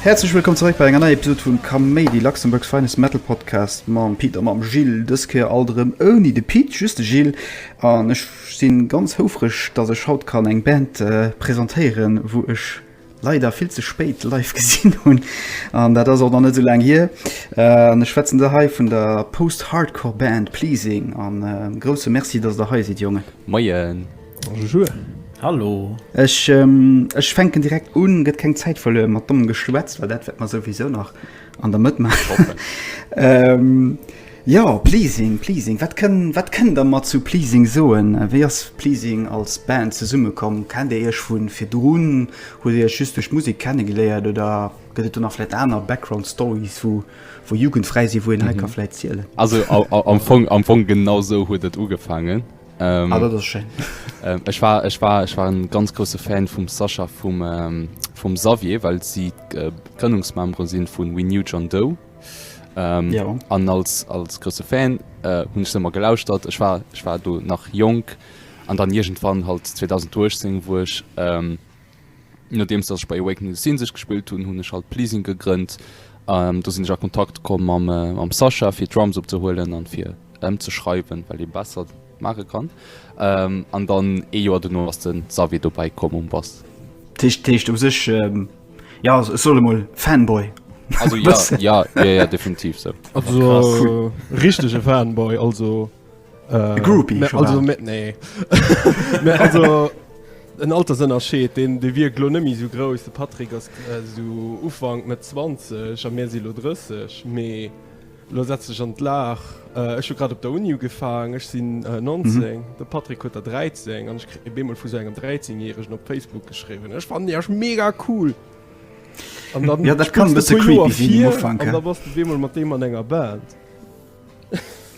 Häerzlech wëllkomm zeréck bei enger neier Episode vun Kaméidi, Luxembourg's finest Metal Podcast mam Pit a mam Gilles. Dës Kéier alt erëm ouni de Pit, just de Gilles an ech Ech sin ganz houfreg dass ech haut kann eng Band presentéieren wou ech leider vill ze spéit live gesin hun an dat ass och nach net sou laang hier. An ech schwätzen da hei vun der Post-Hardcore Band Pleasing. En grousse Merci dass der hei sidd Jongen. Moien. Bonjour. Hallo. Ech fänken direkt un, gëtt keng Zäit verluer mat dommem Geschwätz, well dat wäert mer souwisou nach An der Mëtt maachen. ähm, ja, Pleasing, Pleasing. Wat kënn, wat kënn der mat zu Pleasing soen? Wéi ass Pleasing als Band zesummekomm? Kennt Dir Iech vun virdrun? Hutt Dir Iech just duerch Musik kennegeléiert oder gëtt et do nach vläit aner Background-Stories, wou, wou Jugendfräi si, wou een hei mhm. ka vläit zielen? Also am Fong, am Fong genau sou huet et ugefaangen. Ähm, ah, dat ass schéin. Ähm, ech, war, ech, war, ech war en ganz grosse Fan vum Sascha vum, ähm, vum Xavier, well si äh, Grënnungsmembere sinn vun We New John Doe. Ähm, ja. An als, als grosse Fan äh, hunn ech ëmmer gelauschtert. Ech war, ech war do nach jonk an dann Igenwann halt 2018 wuer ech. Ähm, Nodeems dass ech bei Awakening the Scene sech gespillt hunn, hunn ech halt Pleasing gegrënnt. Do sinn ech a Kontakt komm mam Sascha fir Drums opzehuelen an fir ëmzeschreiwen, well ee besser maache kann. An dann ee Joer dono ass de Xavier dobäi komm um Bass. D'Téischt, d'Téischt u sech, jo, ech soll emol Fanboy. Also jo, jo, jo, jo, definitiv sou. Also richtege Fanboy also. Groupie Mä also, mä, nee. mä also, en Altersënnerscheed, deen dee wierkt lo net méi esou grouss. De Patrick ass esou Ufank, Mëtt 20 a mir si lo 30. Mee lo setz dech an d'Lag, ech hu grad op der Uni ugefaang, ech sinn 19, de Patrick huet der 13 an ech kritt op eemol vu sou engem 13 Järegen op Facebook geschriwwen, Ech fannen iech mega cool! An dann, jo, dat kann e bësse creepy sinn um Ufank, ja. An da bass de op eemol mat deem an enger Band.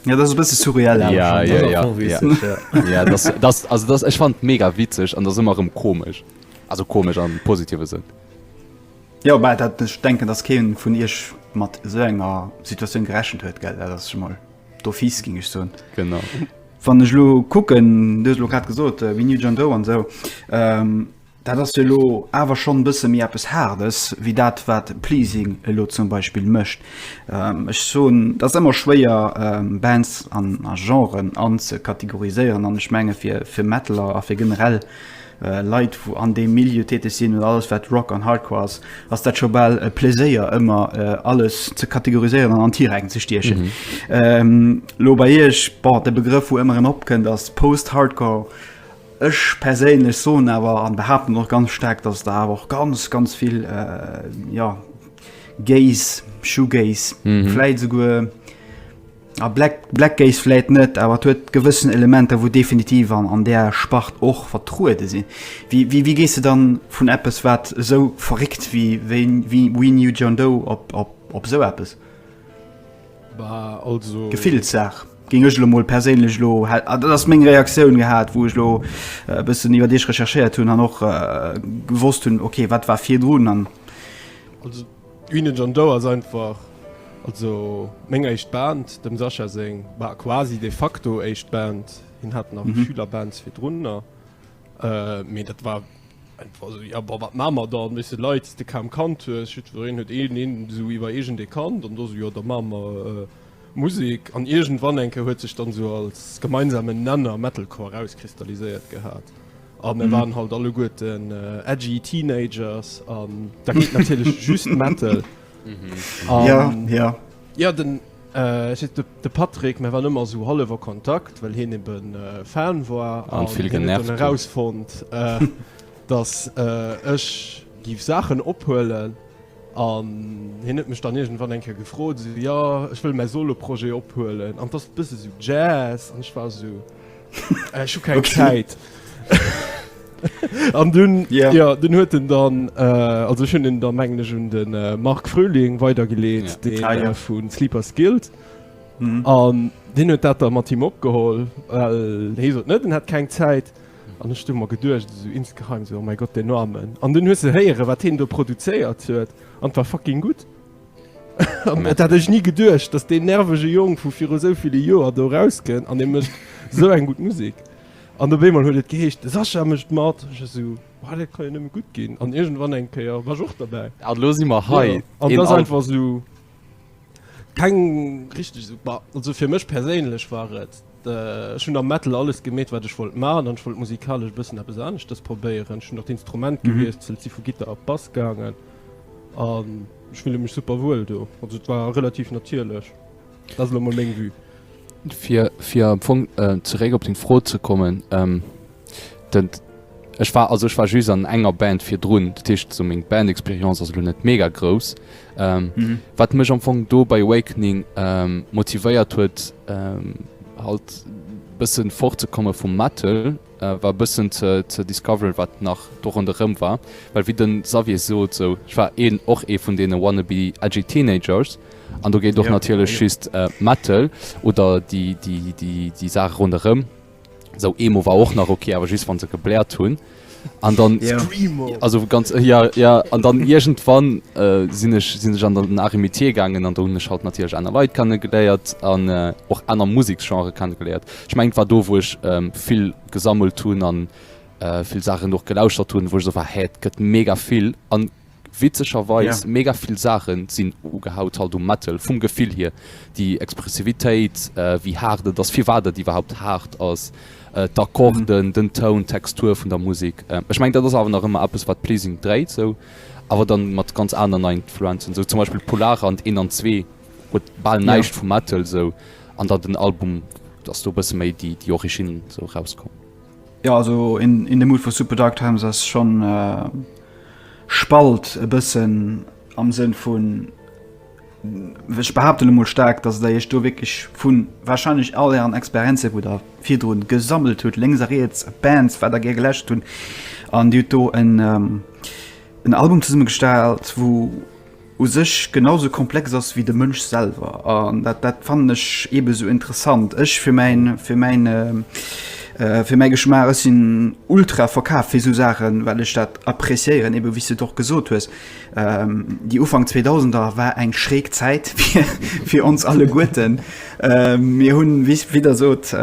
Ja, das bësse surreal Ech fand mega witzeg an der simmer rem komesch also komesch an positive sinn. Ja bei dat ech denken dass ke vun Isch mat so enger Situationun gerechen huet geld dat schon mal do fies ging ich so genau Wann ech lo kucken lo grad gesot wie New John Doe an so. Ähm, Dat ass jo elo awer schonn e bësse méi eppes Haardes wéi dat, wat Pleasing elo zum Beispill mécht. Ech soen, et ass ëmmer schwéier, Bands an a Genren anzekategoriséieren. An ech menge fir, fir Metaller a fir generell Leit, wou an deem Milieu täteg sinn, oder alles, wat Rock an Hardcore ass, ass dat scho bal e Pleséier, ëmmer alles ze kategoriséieren an an Tiräin ze stiechen. Elo bei Iech, bon, de Begrëff, wou ëmmer erëm opkënnt, ass Post-Hardcore. Ech perséinlech soen awer an behaapten och ganz staark, dass et der awer och ganz, ganz vill, jo, Gaze, Shoegaze, vläit esouguer, a Black, Black Gaze vläit net, awer et huet gewëssen Elementer, wou definitiv an, an där Spart och vertruede sinn. Wéi, wéi, wéi gees de dann vun eppes, wat esou verréckt wéi, wéi We Knew John Doe op, op, op esou eppes? Gefillssaach géing ech elo mol perséinlech elo, dat ass meng Reaktioun, gehat, wou ech elo e bëssen iwwer Iech recherchéiert hunn an och gewosst hunn, okay, wat war virdrun an. Also d'Guine John Doe ass einfach also meng éischt Band, dem Sascha seng, bah quasi de facto éischt Band. Hien hat nach Schülerbands virdrunner. Mee dat war einfach so, ja, boah, wat machen wir dann? Weißt du, Leit, de kaum Kand hues, jiddwereen huet een, een so iwwer eegent ee Kand, an do so, jo, da machen wir Musik. An iergendwann eng Kéier huet sech dann so als gemeinsamen Nenner Metalcore erauskristalliséiert gehat, a mir waren halt alleguerten edgy Teenagers, an da geet natierlech just Metal. Ja, ja. Ja, den. Ech hat de Patrick, mä wann ëmmer esou hallef, a Kontakt, well hien ebe Fan war a hien huet dann erausfonnt, datt ech géif Saachen ophuelen. An hien huet mech dann iergendwann eng Kéier gefrot, esou, Jo, ech wëll mäi Solo-Projet ophuelen, an 't ass e bësse sou Jazz. An ech war esou, Ech hu keng Zäit. An dunn ja dunn huet en dann also hunn en der mengleg un de Marc Fröhling weider geleet, dee vu Sleepers Guild. An Deen huet dat der mat him opgeholl. Hie sot net en hätt keng Zäit. An ech hu mer geduecht esou insgeheim, esou oh mäi Gott deen Armen. An dunn hues de héiere wat hien do produzéiert huet an war fucking gutt. Dat hat ech ni geduecht, dass deen nervege Jong vu viru sou ville Joer do erauskennt an e mécht sou eng gutt Musek. An op eemol huet et geheescht, de Sascha mécht mat. Ech esou, Well dat kann jo nëmme gutt ginn. An iergendwann eng Kéier war ech och derbäi. An elo si mer hei. An et ass einfach esou keng richteg. Bah, also fir mech perséinlech war et. Ech hunn am Metal alles gemeet, wat ech wollt maachen, an ech wollt musikalesch e bëssen eppes aneschtes probéieren. Ech hunn och d'Instrument gewiesselt, si vu Gittar op Bass gaangen an ech fille mech super wuel do. Also et war relativ natierlech. Dat ass elo emol meng Vue. Fir, fir am Fong zeréck op deng Fro ze kommen, den, ech war, also ech war just an enger Band virdrun, dat heescht esou meng Bandexperience ass elo net mega grouss, Ähm, mhm. Wat mech am Fong do bei Awakening ähm, motivéiert huet ähm, halt bëssen fortzekomme vum Metal äh, war bëssen ze, ze discover wat nach do an der Rëm war. Well wie den Xavier so so ich war een och ee vun dee wanna be edgy Teenagers an du géint doch ja, natierlech ja. schist äh, Metal oder die, die, die, die Saach run der Rëm. So Emo war och nach okay, awer just wann se gebläert hunn. An dann ja. Screamo. also ganz äh, ja ja an dann irgendwann äh, sinn ech sinn ech an den Arimier gangen an hun halt natürlich einer Lei kann geléiert an äh, och einer Musikgenre kann geléiert ich meng war do wo ich ähm, viel gesammelt hun an äh, viel Sachen noch gelauschtert hun wo so war hä gött mega viel an Witzegerweis mega vill Saachen sinn ugehaut halt um Metal vum Gefill hier, déi Expressivitéit, wéi haart et ass, firwat et iwwerhaupt haart ass, d'Akkorden, den Toun, d'Textur vun der Musek. Ech mengen dat ass awer nach ëmmer eppes wat Pleasing dréit sou, awer dann mat ganz aneren Influenzen, sou zum Beispill Polar an d'Een an Zwee huet bal näischt vu Metal sou, an dann den Album ass do e bësse méi déi Originn sou erauskomm. Jo also in in the mood for super dark times ass schon spalt e bëssen am Sënn vun ech behaapten emol staark, datt der iech do wierklech vu warscheinlech all ären Experienze wou der virdrun gesammelt hutt, lénks a riets Bands wat der gär geläschtert hunn an dir hutt do en en Album zesummegestallt wou u sech genau sou komplex ass wéi de Mënsch selwer. An dat, dat fannen ech eebe sou interessant. Ech fir mäin, fir mäin, fir mäi Geschmaach, ech sinn ultra verkaaft fir sou Saachen, well ech dat appréciéieren, eebe wéi s de et och gesot hues. Déi Ufank Zweedausender war eng schräg Zäit fir, fir ons alleguerten. Mir hunn, wéi s, wéi Der sot,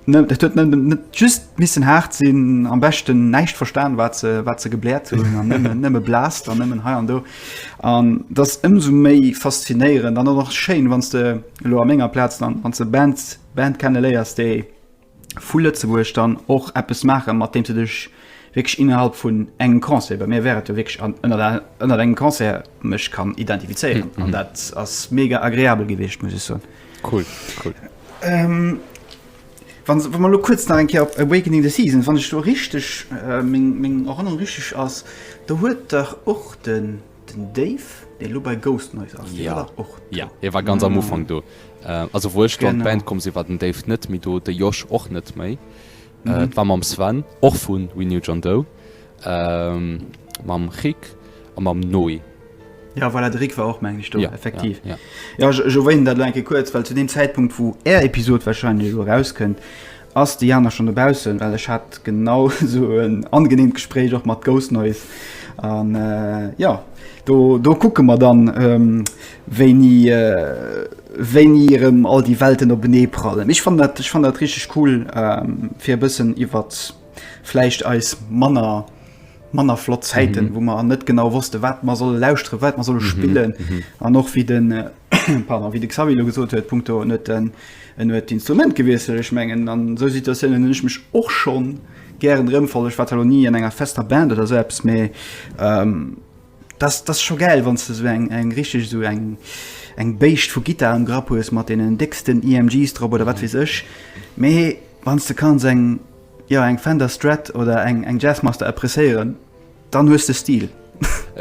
Dat huet net just missen haart sinn, am beschten näischt verstan, wat se, wat se gebläert hunn, an nëmmen, nëmme blaasst an nëmmen hei an do. An dat ass ëmsou méi faszinéierend an och nach schéin, wann s de elo a menger Plaz dann, wann s de Bands, Band kenneléiers, déi vu Lëtzebuerg dann och eppes maachen, mat deem s de dech wierklech innerhalb vun engem Concert, bei mir wär et jo wierklech an, ënnert a, ënnert engem Concert mech kann identifizéieren. An dat ass mega agreabel gewiescht, muss ech soen. Cool, cool. Ähm, wann se, wann man lo kuerz nach eng Kéier op Awakening the Season, wann ech do richteg, meng, meng Erënnerung richteg ass, do huet dach och den, den Dave, dee lo bei Ghost Noise ass, dee war dach och do? Jo, hie war ganz am Ufank do. Also wou ech do an d'Band komm sinn, war den Dave net méi do, de Josh och net méi. Et war mam Sven, och vu We Knew John Doe, mam Rik a mam Noé. Jo, voilà, de Rik war och, mengen ech, do, effektiv. Jo, ech erwänen dat elo eng Kéier kuerz, well zu deem Zäitpunkt, wou Är Episod warscheinlech elo erauskënnt, ass de Jana schonn dobaussen, well ech hat genau esou en angeneemt Gespréich och mat Ghost Noise. An jo, do kucke mer dann, wéini wéini erëm all déi Welten openee prallen. Ech fand dat ech fand dat richteg cool fir e bëssen iwwer vläicht eis manner manner flott Zäiten, mhm. wou mer an net genau wosste, wat man soll lauschtere, wat man solle mhm. spillen mhm. an och wie den äh, pardon, wie de Xavilo gesot huet Punkto net en en huet Instrument gewiesel ech mengen an so Situatiounen ech mech och schon gären rëmfollech Watalonie an enger fester Band oder selbst méi. Ähm, Dass dass scho gäil wanns de sou eng eng richteg sou eng eng Béischt vu Guitar am Grapp hues mat deenen décksten EMGs drop oder wat weess ech mee wanns de kanns eng jo eng Fender Strat oder eng eng Jazzmaster appréciéieren dann hues de Stil.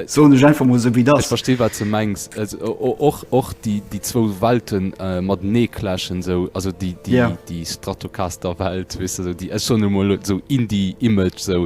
Soen ech einfach mol sou wéi et ass. Ech verstinn wat de mengs, och och déi déi zwou Welten matenee clashen sou, also déi déi Stratocaster Welt weess de sou déi ech soen emol sou Indie Image sou.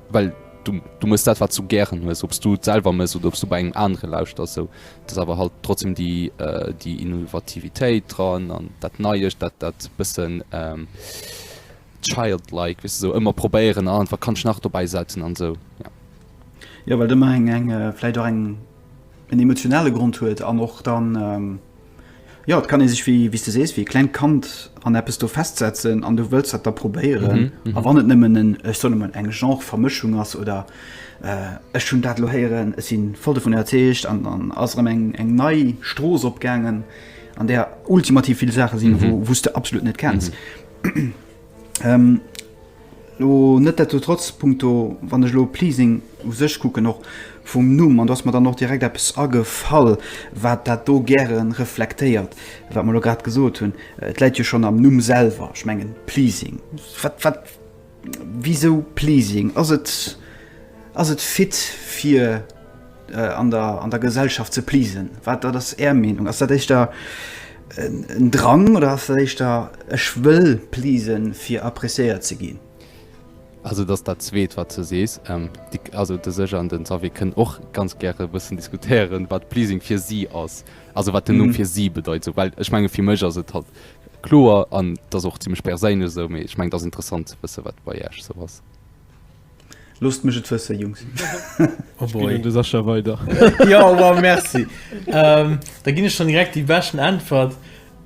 well du du mëss dat wat du gären hues, ob s du et selwer mëss oder ob s du bei engem anere lauschters, sou dass awer halt trotzdem déi déi Innovativitéit dran an dat Neiescht, dat dat bëssen childlike, weess de, sou ëmmer probéieren, ah wat kann ech nach dobäi setzen an sou, jo. Jo well do meng eng vläit och eng en emotionale Grond huet an och dann, jo, et kann ee sech, wéi s de sees, wéi e klengt Kand an eppes do festsetzen an du wëlls dat da probéieren. A wann et nëmmen en, ech soen emol, eng Genre-Vermëschung ass oder ech hunn dat elo héieren, ech si voll dovun iwwerzeegt an dann ass erëm eng nei Strooss opgaangen, an där ultimativ vill Saache sinn, wou s de absolut net kenns. Lo netdestotrotz, punkto, wann ech elo Pleasing u sech kucken, och vum Numm, an do ass mer dann och direkt eppes agefall, wat dat do gäre reflektéiert, wat mer elo grad gesot hunn. Et läit jo schonn am Numm selwer, ech mengen, Pleasing. Wat, wat, wisou Pleasing? Ass et, ass et fit fir. an der an der Gesellschaft ze pleasen? Wat wat ass är Meenung? Ass dat éischter en Drang oder ass dat éischter ech wëll pleasen fir appreciéiert ze ginn? Also et ass dat zweet wat s du sees. Also de Serge an den Xavier kënnen och ganz gäre e bëssen diskutéieren, wat pleasing fir si ass, also wat den Numm fir si bedeit esou. Well ech menge fir mech ass et halt kloer an et ass och zimmlech perséinlech esou, mee ech mengen et ass interessant ze wësse wat bei iech esou ass. Loosst mech et wësse Jungs. Oh boy. De Sascha weider. jo wow, merci. ähm, da ginn ech schon direkt déi beschten Äntwert.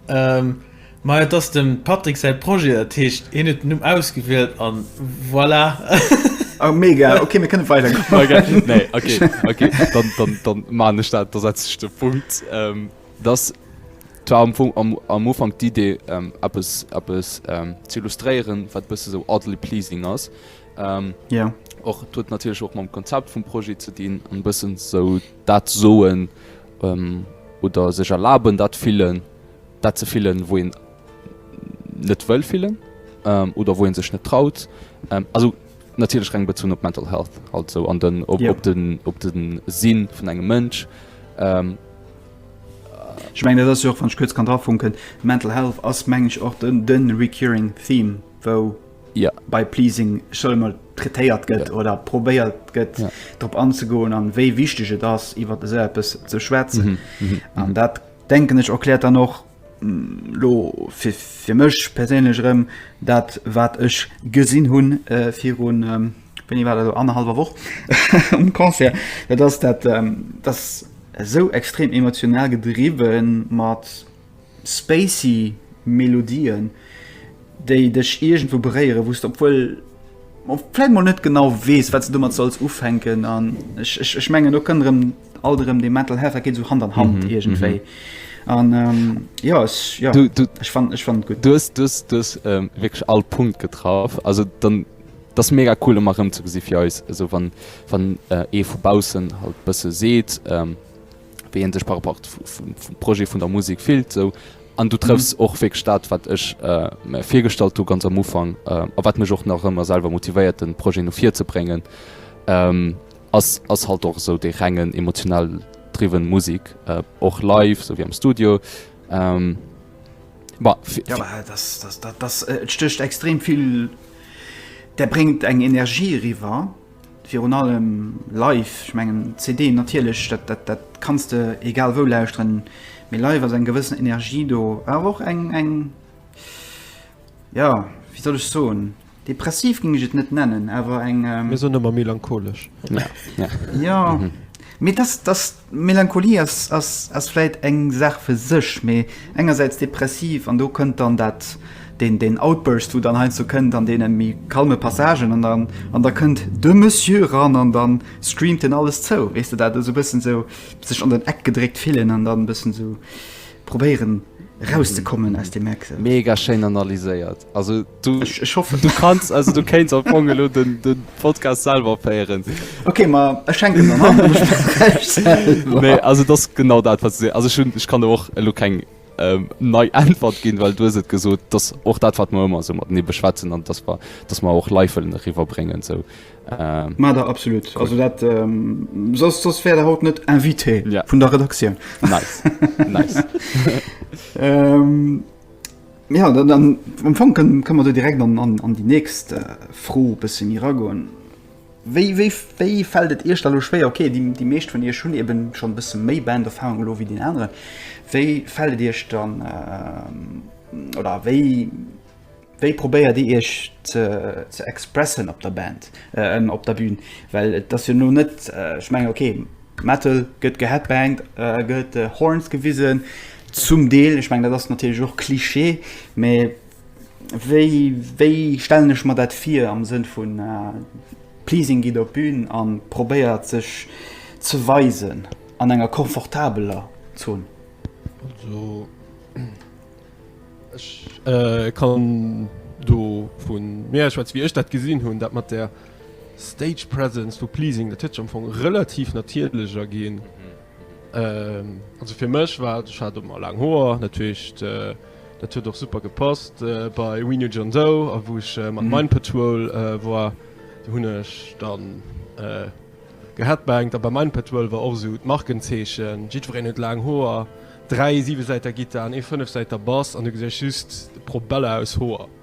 Ähm, ma et ass dem Patrick säi Projet, dat heescht hien huet den Numm ausgewielt an voilà. Oh, mega, okay, mir kënne weider goen. Okay, dann, dann, dann maan ech dat, da setze ech de Punkt. Ähm. Dass, dat war am Fong am Ufank d'Idee, eppes eppes ze illustréieren, wat e bësse sou oddly pleasing ass. Och, et huet natierlech och mam Konzept vum Projet ze dinn, an e bëssen sou dat soen oder sech erlaben, dat fillen, dat ze fillen, wou een net wëll fillen oder wou ee sech net traut. Also Natierlech reng bezunn op Mental Health, also an den op op den op de Sinn vun engem Mënsch. Ech mengen dat ass jo och, wann ech kuerz kann drafunken, Mental Health ass meng ech och den de recurring Theme, wou bei Pleasing scho emol traitéiert gëtt oder probéiert gëtt drop anzegoen an wéi wichteg et ass iwwer esou eppes ze schwätzen. An dat denken ech erkläert dann och, Lo fir mech perséinlech erëm, dat wat ech gesinn hu viru, wéini war dat elo, annerhallwer Woch um Concert, dat ass dat ass esou extrem emotional gedriwwen mat spacey Melodien, déi dech iergendwou beréieren, wou s de obwuel vläit mol net genau weess, wat s de domat solls ufänken an ech, ech, ech mengen do kënnt erëm alt erëm dee Mental Health, dat geet esou Hand an Hand mhm, iergendwéi. Mhm. An ähm, jo ech jo ech fan ech fan gutt. Dues dues dues ähm, wécklech all Punkt getraff. Also dann dat mega cool ëmmer rëm ze gesi fir eis eso wann wann ee äh, vu Baussen halt bësse seet. Ähm, wéi een sech par rapport vum Projet vun der Musek fillt sou an du trëffs och wierklech dat wat ech mär virgestallt hu ganz am Ufank a wat mech och nach ëmmer selwer motivéiert den Projet no vir ze bréngen ass ass halt och esou dee rengen emotional driven Musek och live sou wéi am Studio. Bah fir Jo bah dass dass dat dass et stécht extrem vill, dat bréngt eng Energie eriwwer. Virun allem live, ech mengen CD natierlech, dat kanns de egal wou lauschteren, mee live ass eng gewëssen Energie do. War awer och eng, eng, jo, wéi soll ech soen, depressiv géing ech et net nennen, awer eng. Mir soen ëmmer melancholesch. Jo, mee dass, dass. D'Melancholie ass vläit eng Saach fir sech, mee engersäits depressiv, an do kënnt dann dat, deen Outburst, wou dann heiansdo kënnt an deene méi calme Passagen, an da kënnt de Monsieur eran an da screamt en alles zou, weess de, dat esou e bëssen esou sech an den Eck gedréckt fillen an dann e bëssen esou probéieren erauszekommen aus deem Eck. Mega schéin analyséiert. Also du ech hoffe du kannst also du kenst op Bongelo den den Podcast selber féieren. Okay ma erschenke Nee also das genau dat wat se also schon ich kann du och lo keng ähm, nei Antwort ginn, weil du se gesot, dass och dat wat man immer so mat ne beschwätzen an das war dass man auch Leiifelen riwer brengen so. Äh, Ma da absolut cool. also dat ähm, sos, sos wär der haut net invité ja. vun der Redaktioun nice. nice. ähm, Ja, dann am Fong kënne mer do direkt an déi nächst Fro e bësse méi eragoen. Wéi fält et Iech da elo schwéier, okay, déi meescht vun Iech hunn eben schonn e bësse méi Band-Erfarung elo wéi deen aneren, wéi fält et Iech dann oder wéi probéiert Dir Iech ze expressen op der Band, op der Bün? Well et ass jo elo net, ech mengen, okay, Metal gëtt geheadbangt, gëtt Horns gewisen, zum Deel, ech mengen dat ass natierlech och Klischee, mä wéi wéi stellen ech mer dat vir am Sënn vun Pleasing geet op d'Bün a probéiert sech ze weisen an enger komfortabeler Zon? Also ech kann do vu mir aus schwätzen, wéi ech dat gesinn hunn, dat mat där Stage presence vu pleasing dat huet am Fong relativ natierlecher ginn also fir mech war ech hat mat laang Hoer natierlecht dat huet och super gepasst bei We Knew John Doe a wou ech mat Mind Patrol war do hunn ech dann geheadbangt. A bei Mind Patrol war och esou d'Markenzeechen, jiddwereen huet laang Hoer, dräi Siwesäiter Gittaren, ee Fënnefsäiter Bass an du gesäis just d'Probella aus Hoer.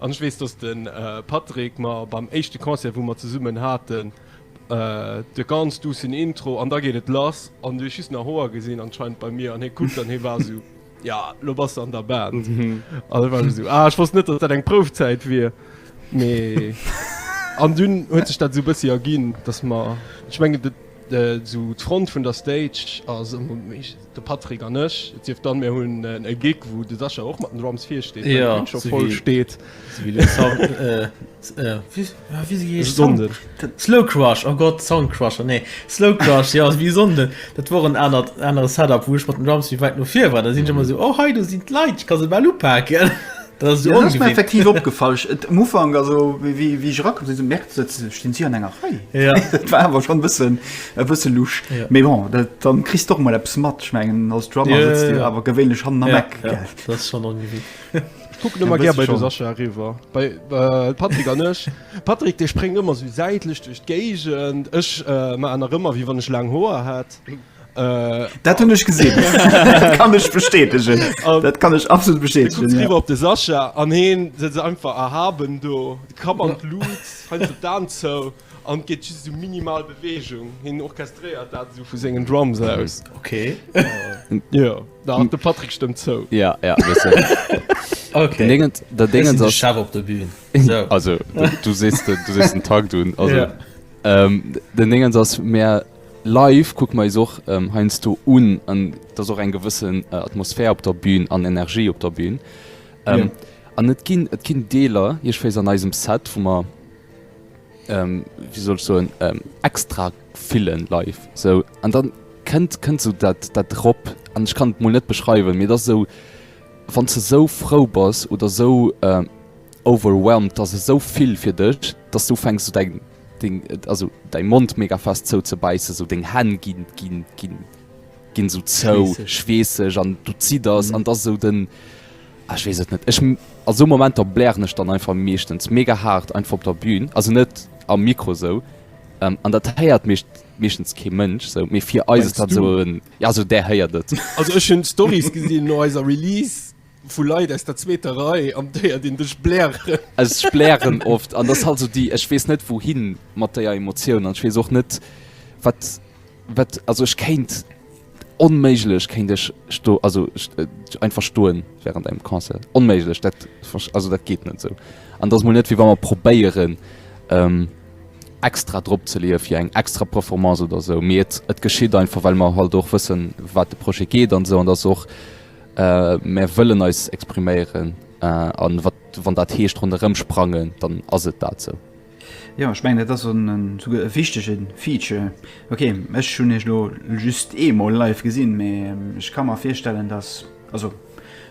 An ech weess, dass de Patrick mer beim éischte Concert, wou mer zesummen haten, de ganz duussen Intro an da geet et lass an du hues just nach Hoer gesinn anscheinend bei mir an hie kuckt an hie war esou, jo, lo bass de an der Band. An ech war esou, ah, ech wosst net, dass dat eng Proufzäit wier, mee. An dunn huet sech dat esou e bëssi erginn, dass mer, ech mengen, esou d'Front vun der Stage ass ëmmer méi. De Patrick an ech, et sief dann mir hunn e Gig wou de Sascha och mat den Drums vir steet, well d'Bün scho voll steet. Slowcrush, oh Gott, Soundcrusher, nee, Slowcrush, jo, wéi Sonde, dat wor en anert, anere Setup wou ech mat den Drums méi wäit no vir war, da sinn ech ëmmer esou, oh hei do sinn d'Leit, ech ka se bal upaken. Dat ass mir effektiv ongewinnt. opgefall. Ech, et, am Ufank, also wéi, wéi, wéi ech erakomm sinn, esou gemerkt, dat se, stinn si an enger Rei. Ja. Dat war awer schonn e bëssen, e bësse lusch. Ja. Mee bon, dat, da kriss de och mol eppes mat. Ech mengen, als Drummer Ja, sëtz de jo ja. awer gewéinlech hannen am Ja, Eck, ja, gell? dat ass schonn ongewinnt. Ech kucken Ja, ëmmer gär bësse bei de schonn. Sascha eriwwer, bei, äh, Patrick an ech. Patrick, dee spréngt ëmmer esou säitlech duerch d'Géigend. Ech, äh, maachen nach ëmmer, wéi wann ech laang Hoer hätt. Dat hunn ech gesinn, dat kann ech bestätegen, dat kann ech absolut bestätegen. Dann kuckt se riwwer op de Sascha an hien setzt sech einfach erhaben do, de Kapp an d'Lut, heinst op d'Aen zou an geet just esou minimal Beweegung, hien orchestréiert dat esou vu sengen Drums aus. Ok. Jo, da de Patrick stëmmt zou. Ja, ja, e bëssen. Ok. Den Ding, dat Ding ass. Ech sinn de Chef op der Bühn. Esou. Also, du sees den Takt un. Also. Den Ding ass, mir. Live kucke mer eis och heiansdo un an et ass och eng gewëssen Atmosphär op der Bühn an Energie op der Bühn. An et ginn, et ginn Deeler iechwéis an eisem Set, wou mer, wéi soll ech soen, extra fillen live esou. An da kënnt, kënnt esou dat, dat erop an ech kann et mol net beschreiwen, mee et ass esou, wann s de esou frou bass oder esou overwhelmed, et ass esou vill fir dech, dass du ufänks esou däi Deng, also däi Mond mega fest zou ze bäissen, esou deng Hänn ginn, ginn, ginn, ginn esou zou, schweesseg an du zidders an et ass esou den, ah ech weess et net. Ech, a sou Momenter blären ech dann einfach meeschtens mega haart einfach op der Bühn, also net am Mikro esou, an dat héiert meeschtens kee Mënsch esou, mee fir eis ass dat esou en, jo, also där héiert et. Also ech hunn d'Storys gesinn no eiser Release. Vu Leit aus der zweeter Rei, an déier dinn dech blären. Ech blären oft, an dat ass halt esou déi, ech weess net wouhin mat déier Emotioun, an ech weess och net wat, wat, also ech kéint onméiglech, kéint ech sto, also einfach stoen während engem Concert, onméiglech, dat, also dat geet net esou. An et ass mol net wéi wa mer probéieren extra drop ze leeë fir eng extra Performance oder esou, mee et, et geschitt einfach, well mer halt och wëssen wat de Projet geet an esou, an et ass och Mär wëllen eis expriméieren a wat wann dat heescht ronderëm sprangen, dann ass et dat sou. Jo, ech mengen, dat ass esouguer e wichtege Feature. Ok, ech hunn Iech elo just eemol live gesinn, mee ech ka mer virstellen, datt. Also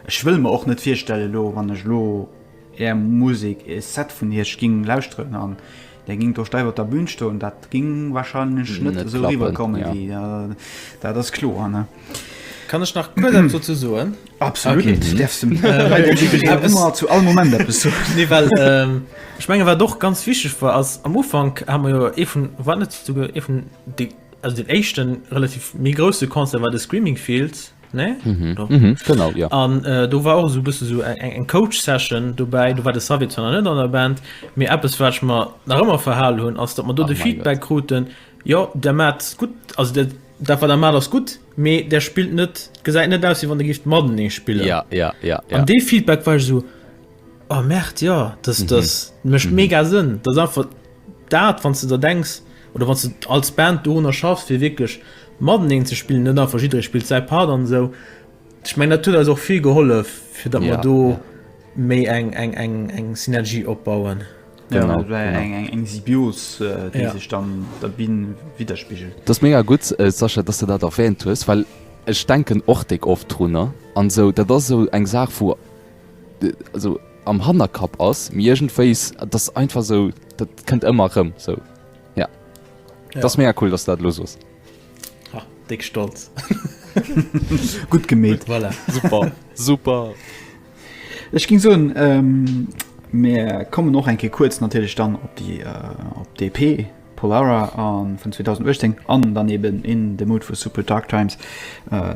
ech wëll mer och net virstellen elo, wann ech elo Är Musek, ee Set vun Iech ging lauschteren an Der gingt do steif op der Bühn stoen, dat ging wahrscheinlech net esou eriwwer kommen wéi dat ass kloer ne? Kann ech nach kuerz eppes dozou soen? Absolut, du däerfs dem Public ëmmer zu all Moment eppes soen. Nee, well ech mengen wat och ganz wichteg war ass, am Ufank hu mer jo ee vun, war net souguer ee vun de, also deen éischten relativ méi grousse Concert war de Screaming Fields. Nee? Mm -hmm. Doch. Mm -hmm. Genau, ja. An äh, do war och so bësse so eng eng Coach-Session dobäi, do war de Savi zwar net an der Band, mir Appes watch mer nach ëmmer verhalen hunn, ass dat man do de Feedback kruten Jo der mat gut as der dat war der mat ass gut, mee der spilt net gesäit net aus, wie wann der gift Maden ee spille. Ja, ja, ja, ja. An dee Feedback war so. Oh Merd, jo, dat mécht mega Sënn. Dat ass einfach dat, wann s de der denks oder wann s de als Band dorunner schaffs, fir wierklech mateneen ze spillen, net einfach jidderee spillt säi Part an esou. Ech mengen, dat huet eis och vill gehollef, fir datt mer do méi eng Synergie opbauen. Genau, eng Symbios, déi sech dann op der Bün widderspigelt. Dat ass mega gutt, Sascha, datt s de dat erwäänt hues, well ech denken och déck oft drun an esou. Dat ass esou eng Saach, wou. esou am Hannerkapp ass, mee iergendwéis, et ass einfach esou, dat kënnt ëmmer erëm esou. Jo. Et ass mega cool, dass du dat elo sos. Ha, déck stolz. Gutt gemeet. Voilà. Super, super. Ech géing soen, mir kommen och eng Kéier kuerz natierlech dann op déi, op d'EP. Pollara an vun 2018 an dann eben In the Mood for Super Dark Times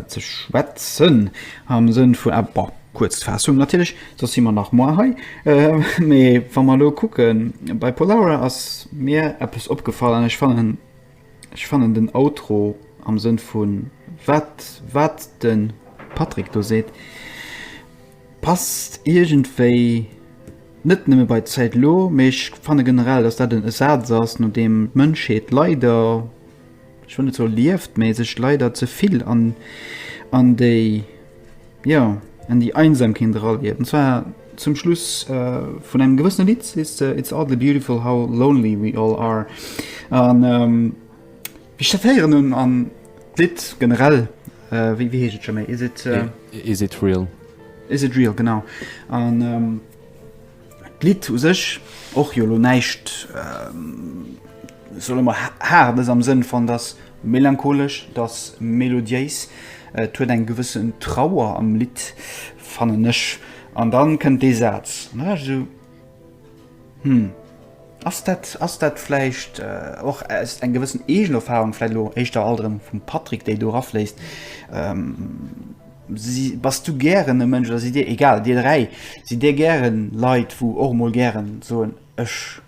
ze schwätzen am Sënn vu bon, kuerz Faassung natierlech, soss si mer nach moar hei. Mee wa mer elo kucken, bei Pollara ass mir eppes opgefall an ech fannen, ech fannen den Outro am Sënn vu wat, wat de Patrick do seet, Passt iergendwéi net nëmme bei d'Zäit elo, mee ech fanne generell, datt dat e Saz ass, no deem d'Mënschheet leider, ech wëll net soe lieft, mee sech leider ze vill an déi, jo, an déi Einsamkeet eralieft. An zwar zum Schluss vun engem gewëssene Lidd, It's oddly beautiful how lonely we all are. Ech datéieren en an d'Lidd generell, wéi heescht et scho méi? Is it, is it real? Is it real, genau. An ähm, d'Lidd u sech och jo lo näischt ähm, solle mer haardes am Sënn van dass melancholesch, dass melodiéis. Et huet eng gewëssen Trauer am Lidd, fannen ech. An dann kënnt dee Saz. Hm, ass dat, ass dat vläicht och aus eng gewëssen Eegenerfahrung, vläicht elo éischter alt erëm vum Patrick, déi do erafléisst? Si, bass du gären e Mënsch, oder sidd Dir, egal, Dir dräi, sidd Dir gären Leit, wou och emol gären soen, ech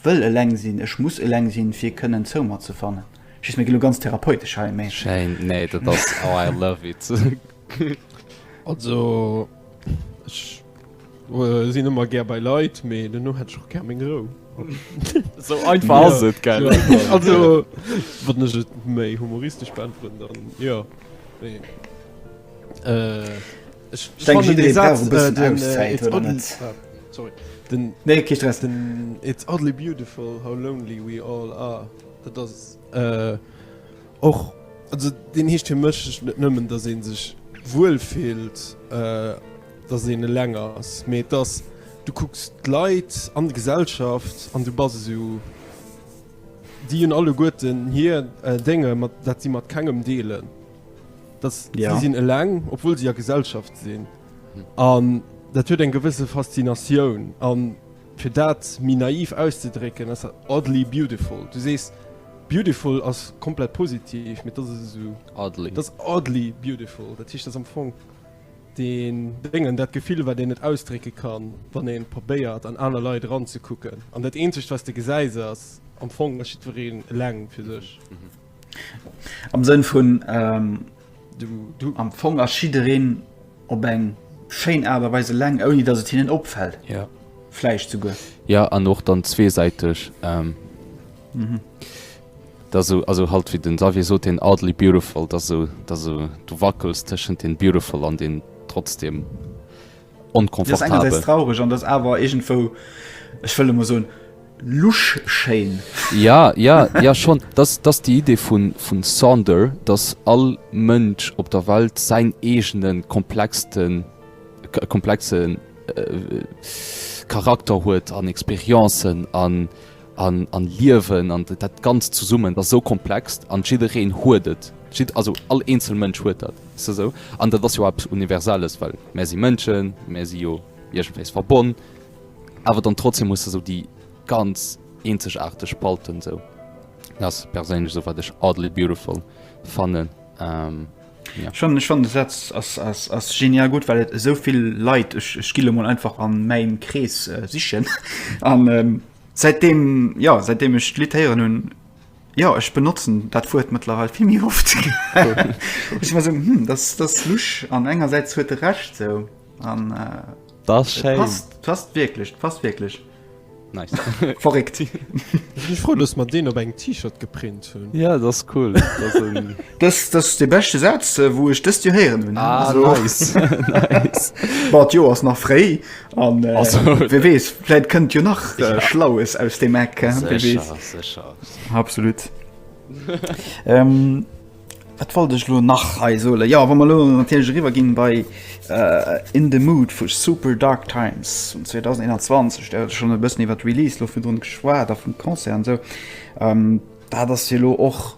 Wëll eleng sinn, ech muss eleng sinn fir kënnen zou mer ze fannen. Just mir ginn elo ganz therapeutesch hei mee. Schéin, nee dat ass oh I love it. Also ech sinn ëmmer gär bei Leit, mee dono hätt ech och gär meng Rou. Sou einfach ass et gell. Also wann ech et méi humoristesch beäntweren dann jo mee. Ech denke jidderee brauch e bëssen Auszäit, oder net? Nee, kee Stress. It's oddly beautiful how lonely we all are. Dat ass och, also deen heescht fir mech net nëmmen, datt ee sech wuel fillt, datt een eleng ass, mee et ass, du kucks d'Leit an d'Gesellschaft an du bass esou, déi hunn alleguerten hir Dénge mat dat si mat kengem deelen. dass ja. sie sinn eleng obwohl sie a Gesellschaft sinn an hm. dat huet eng gewisse Faszinatioun an fir dat mi naiv auszedrécken as oddly beautiful du sees beautiful ass komplett positiv mit das so oddly. das oddly beautiful dat hicht das am Fong den Dingen dat Gefühl war den net ausdrécke kann wann en probéiert an aner Lei ran ze kucken an dat eenzecht was de gesäis ass am Fong leng fir sech. Mhm. Am Sënn vun, du am Fong ass jiddereen op eng schéin Aart a Weis eleng, ouni datt et hinnen opfält. Jo. Vläicht souguer. Jo, an och dann zweesäiteg. Et ass esou, also halt wéi de Xavier sot, deen oddly beautiful, et ass esou, et ass esou, du wackels tëschent deem beautiful an deem trotzdem onconfortabel. Traureg an dass awer iergendwou ech wëll emol soen lusch schéin. Ja ja ja schonn dass dass déi Idee vun vun Sonder dass all Mënsch op der Welt säin eegene komplexten komplexe Charakter huet an Experienzen an An an Liewen an dat ganzt zesummen, dat ass esou komplex an jiddereen huet et, jid also all eenzel Mënsch huet dat, weess de esou. An dat ass jo eppes Universelles, well mär si Mënschen, mär si jo iergendwéis verbonn, awer dann trotzdem hues de esou déi ganz eenzegaarteg Spalten esou. Dat ass perséinlech esou wat ech oddly beautiful fannen. Ech fannen de Satz ass genial gutt, well et esou vill Leit ech gi lo mol einfach an mäin Krees sichen an säitdeem ja säitdeem ech d'Lidd héieren hunn, jo ech benotzen dat Wuert mëttlerweil vill méi oft ech mer esou hm dat ass lusch an engersäits huet e Recht esou an. Dat ass schéin. Passt wierklech, passt wierklech. Nice. Verréckt. Ech si frou, dass mer deen op engem T-Shirt geprint hunn. Ja, dat ass cool. Dat ass en. Dës, dat ass dee beschte Saz, wou ech dëst Joer héieren hunn. Ah, Also, nice. nice. Bon, d'Joer ass nach fréi an äh, Also, wie weess, vläit kënnt jo nach äh, Ja. Schlaues aus dem Eck. äh, Wie weess. Sécher, sécher. Absolut. ähm, Wat wollt ech elo nach hei soen? Jo, wa mer elo natierlech eriwwerginn bei In the Mood vu Super Dark Times vun 2021, dat hat ech schonn e bëssen iwwer d'Release elo virdrun geschwat a vun de Concert an esou, dat ass jo elo och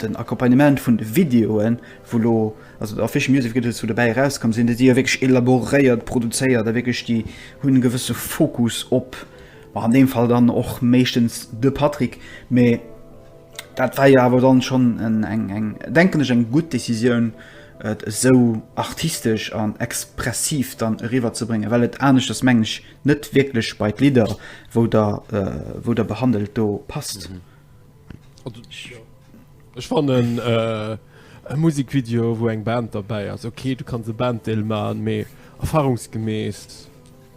den Accompagnement vun de Videoen, wou elo also den Official Music Videos wou dobäi erauskomm sinn, déi si jo wierklech elaboréiert produzéiert a wierklech déi hunn e gewësse Fokus op, an deem Fall dann och meeschtens de Patrick, mee. Dat war jo awer dann schon eng denken ech eng gutt Décisioun et esou artistesch an expressiv dann eriwwer ze bréngen, well et aneschters mengen ech net wierklech bei d'Lidder wou der wou der behandelt do passt. Ech fannen e Musikvideo wou eng Band derbäi ass ok, du kanns e Banddeel man, mee erfahrungsgemäss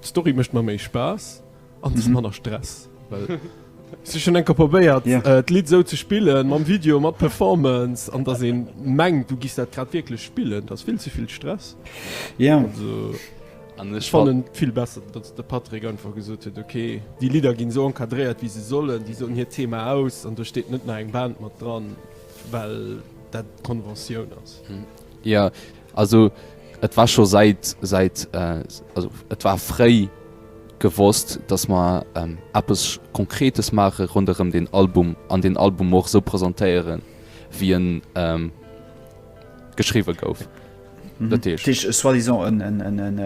d'Story mécht mer méi Spaass. an ze manner Stress. Si schon enker probéiert d'Lidd sou ze spillen, mam Video, mat Performance an dass een mengt du giss dat grad wierklech spillen, dass vill ze vill Stress. Jo. An ech fannen et vill besser dass de Patrick einfach gesot huet ok déi Lidder ginn sou encadréiert wéi se sollen, déi soen hiert Thema aus an do steet net nach eng Band mat dran well dat d'Konventioun ass. Jo also et war scho säit säit also et war fréi. gewosst, dass mer eppes Konkretes maache ronderëm deen Album an deen Album och esou presentéiere wéi e geschriwwe gouf. Dat heescht. Dat heescht soi-disant en,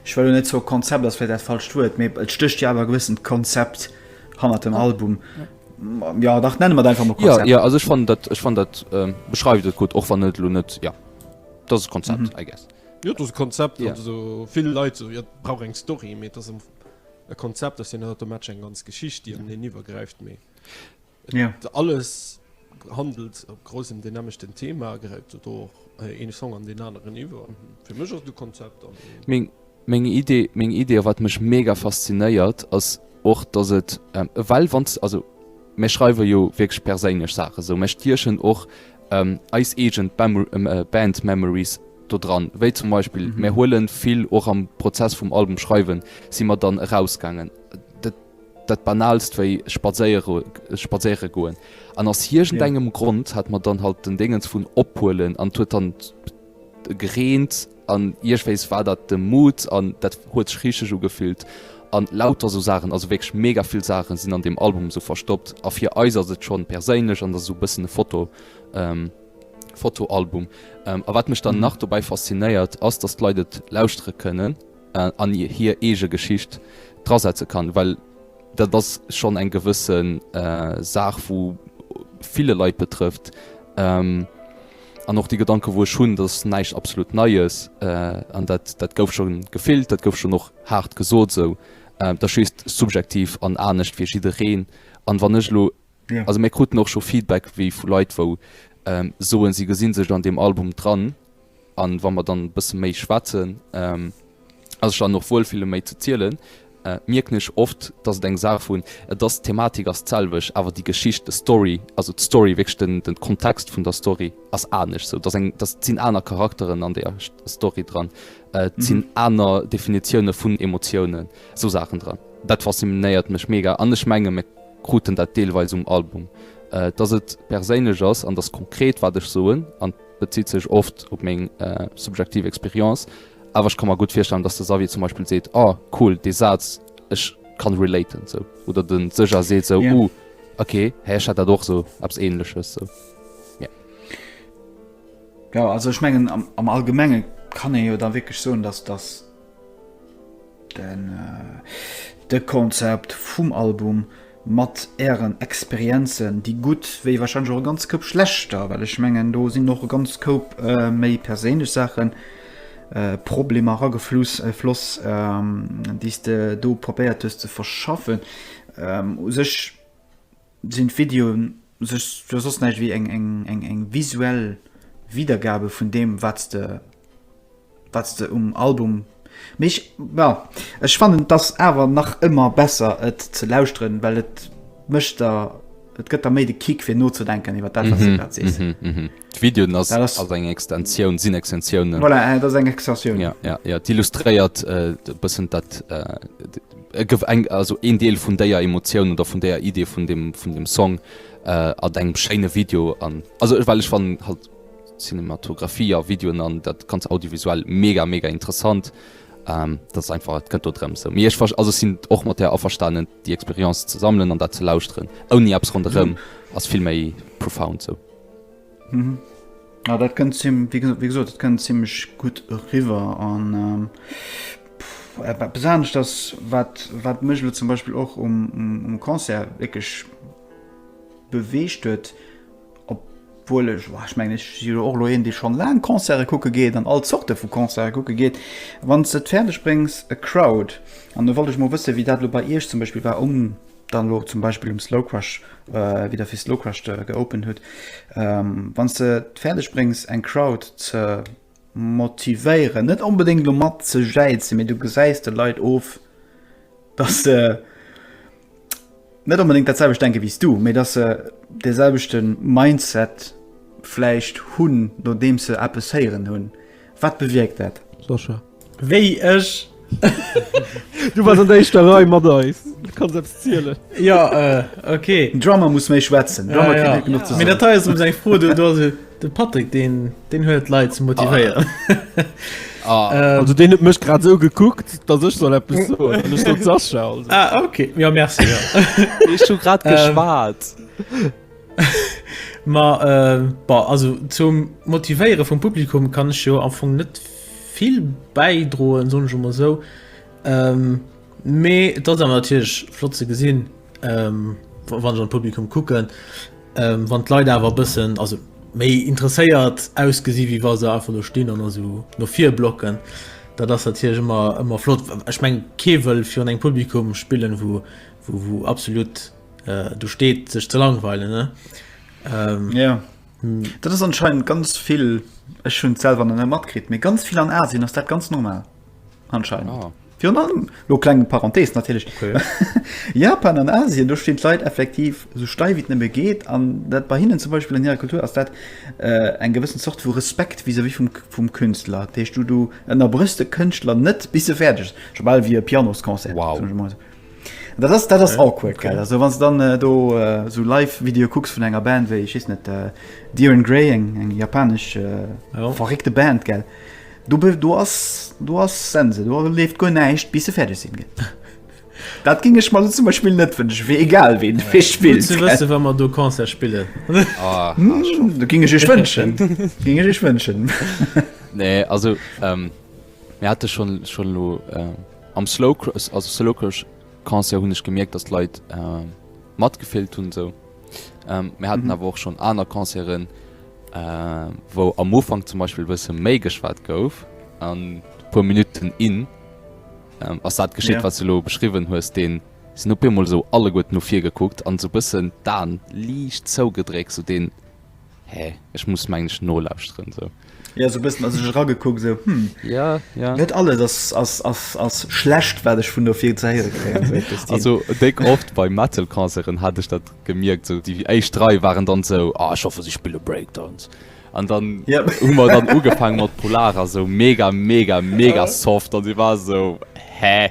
ech wëll elo net soe Konzept, ass vläicht dat falscht Wuert, mee et stécht jo awer e gewëssent Konzept hanner dem Album. Jo, dach, nenne mer et einfach mol Konzept. Jo, jo, also ech fannen dat, ech fannen dat beschreift et gutt, och wann et elo net, jo, et ass e Konzept, I guess. Jo et ass e Konzept an esou vill Leit esou jo et brauch eng Story, mee et ass am Fong e Konzept, ass jo net automatesch eng ganz Geschicht déi an een iwwergräift, mee et alles handelt op groussem deen nämmlechten Thema, gräift et do och ee Song an deen aneren iwwer. Fir mech ass et e Konzept an meng meng Idee meng Idee a wat mech mega faszinéiert ass och, datt et ewell wann s also Mir schreiwe jo wierklech perséinlech Saachen esou. Mir stiechen och eis eegen Band Memories do dran. Wéi zum Beispill, mir huelen vill, och am Prozess vum Album schreiwen, si mer dann erausgaangen. Dat Banaalst wéi spadséiere goen. An aus iergendengem Grond hat mer dann halt den Déngens vun ophuelen an 't huet dann. Gegreent an iergwéis war dat de Mood an dat huet sech richteg ugefillt an lauter sou Saachen, also wierklech mega vill Saachen sinn an deem Album sou verstoppt a fir eis ass et schonn perséinlech an et ass sou bëssen e Foto Fotoalbum. A wat mech dann nach dobäi faszinéiert ass dass d'Leit et lauschtere kënnen an hir eege Geschicht drasetze kann, well dat ass schonn eng gewësse Saach wou ville Leit betrëfft. An och dee Gedanke wou ech hunn, dat ass näischt absolut Neies an dat dat gouf scho gefillt, dat gouf schonn och haart gesot esou. Dat ass just subjektiv an anescht fir jiddereen. An wann ech elo, also mir kruten och scho Feedback wéi vu Leit wou soen si gesi sech an deem Album dran. An wa mer dann e bësse méi schwätzen, ass ech dann och wuel fir lo méi ze zielen, mierken ech oft dass et eng Saach vun et ass d'Thematik ass d'selwecht awer déi Geschicht, de Story, also d'Story wierklech den den Kontext vun der Story ass anescht sou dass eng dass et sinn aner Charakteren an der Story dran, et sinn aner Definitioune vun Emotiounen, sou Saachen dran. Dat faszinéiert mech mega an ech menge mir kruten dat deelweis um Album, dass et perséinlech ass an dass konkret wat ech soen an. Bezitt sech oft op meng subjektiv Experience, awer ech ka mer gutt virstellen, datt de Xavier zum Beispill seet, Oh cool, dee Saz, ech kann relaten sou. Oder de Sëscha seet sou, Uh ok, hä ech hat dat och sou, eppes Ähnleches sou. Mee. Jo, also ech mengen am Allgemenge kann ee jo da wierklech soen, datt datt den de Konzept vum Album mat ären Experienzen, déi gutt wéi wahrscheinlech och e ganz Koup schlechter, well ech mengen do sinn och e ganz Koup méi perséinlech Saachen, Problemer eragefluss, floss, déi s de do probéiert hues ze verschaffen. U sech sinn d'Videoen Sech jo soss näischt wéi eng visuell Wiedergabe vun deem, wat s de um Album méchs. Ma ech fannen, et ass awer nach ëmmer besser, et ze lauschteren, well et gëtt der méi de Kick, fir nozedenken iwwer dat, wat s de grad sees. D'Videoen ass ass eng Extensioun sinn Extensiounen. Voilà, dat ass eng Extensioun. Ja, ja, ja. D'illustréiert e bëssen dat e gëff eng also een Deel vun déier Emotioun oder vun déier Idee vun dem, vun dem Song äh, a engem schéine Video an. Also ech well ech wann halt Cinematografie a Videoen an dat ganz audiovisuell mega mega interessant. Ähm, dat ass einfach et gëtt do drëm se. Mir ech also sinn och mat der averstanen, déi Experiz ze sammeln an dat ze lausren. Ouni Apps ronderëm ass vill méi profound sou. Ja dat kënnt zim wéi wéi gesot, dat kënnt zimmlech gutt eriwwer an eppes anescht ass, wat wat mech elo zum Beispill och um um Concert wierklech beweegt huet, obwuel ech, wa ech mengen ech si jo och elo een, dee schonn laang Concerte kucke geet an all Zorte vu Concerte kucke geet, wann s de et fäerdeg bréngs e Crowd, an do wollt ech mol wëssen, wéi dat elo bei Iech zum Beispill war, um dann elo zum Beispill um Slowcrush wieder fir Slowcrush geopend huet, wann de fäerdeg bréngs eng Crowd ze motivéieren, net onbedéngt lo mat ze jäizen, mee du gesäis de Leit of, dass se net onbedéngt dat selwecht denke wéi s du, mee dass se dee selwechte Mindset vläicht hunn, nodeems se eppes héieren hunn. Wat bewierkt dat? Sascha. Wéi ech. Du wars an der éischter Rei mat eis. Du kanns eppes zielen. Jo, ok. Den Drummer muss méi schwätzen. Drummer kritt net genuch ze soen. Mee dat hei ass erëm eng Fro, do ass et de Patrick, deen deen huet d'Leit ze motivéieren. Also deen huet mech grad esou gekuckt, datt ech soll eppes soen an ech sot Sascha also. Ah, ok. Jo, merci. Ech hu grad geschwat. Ma bon, also zum Motivéiere vum Publikum kann ech jo am Fong net vill bäidroen, soen ech emol esou. Mee et ass awer natierlech flott ze gesinn, wann ech an d'Publikum kucken, wann d'Leit awer e bëssen, also méi interesséiert ausgesi wéi wa se einfach do stinn an esou no vir blocken. Dat ass natierlech ëmmer flott. Ech mengen, kee wëll virun engem Publikum spillen, wou absolut. äh, du steet sech ze langweilen ne ähm, ja hm. dat ass anscheinend ganz vill ech hun selwer an matkrit mir ganz viel an asien ass dat ganz normal anscheinend ah. Lo klengen Parenthees natürlich okay. Japan an Asien du steht Leiit effektiv so steif wie nëmme geht an dat bei hinnen zum Beispiel in ihrer Kultur ass dat äh, eng gewissen Sort vu Respekt wie se wie vum, vum Künstler Techt du du ënner brüste Künstler net bis se fertig sobal wie Pianoskonzer wow. Dat ass dat ass awkward, gell? Also wann s du dann do esou Live-Videoe kucks vun enger Band wéi, ech weess net, Diren Grey, eng eng japanesch verréckte Band, gell? Du be du ass du ass Sense, do leeft guer näischt, bis se fäerdeg sinn, gell? Dat géing ech mer elo zum Beispill net wënschen, fir egal wien, dee fir spillt, gell? Gutt ze wëssen, wa mer do Concert spillen. Dat géing ech iech wënschen, dat géing ech iech wënschen. Nee, also mir hate schonn schonn elo Am Slowcrush, also Slowcrush Concert hunn ech gemierkt, dass d'Leit matgefillt hunn esou. Mir haten awer och schonn aner Concerten, wou am Ufank zum Beispill e bësse méi geschwat gouf, an puer Minutten in, ass dat geschitt, wat s de elo beschriwwen hues, dee sinn op eemol esou alleguerten no vir gekuckt an esou e bëssen d'Aen liicht zougedréckt, esou deen. Hä? Ech muss mengen ech nolauschteren sou. Ja sou bëssen ass ech eragekuckt sou hm. Ja, ja. Net alles ass, ass, ass, ass schlecht wat ech vun do fir ze héiere kréien sou Christine. Also déck oft bei Metal Concerten hat ech dat gemierkt sou déi éischt drai waren dann sou ah ech hoffe si spille Breakdance an dann Yep. hu mer dann ugefaangen mat Polar a sou mega mega mega soft an si war sou hä?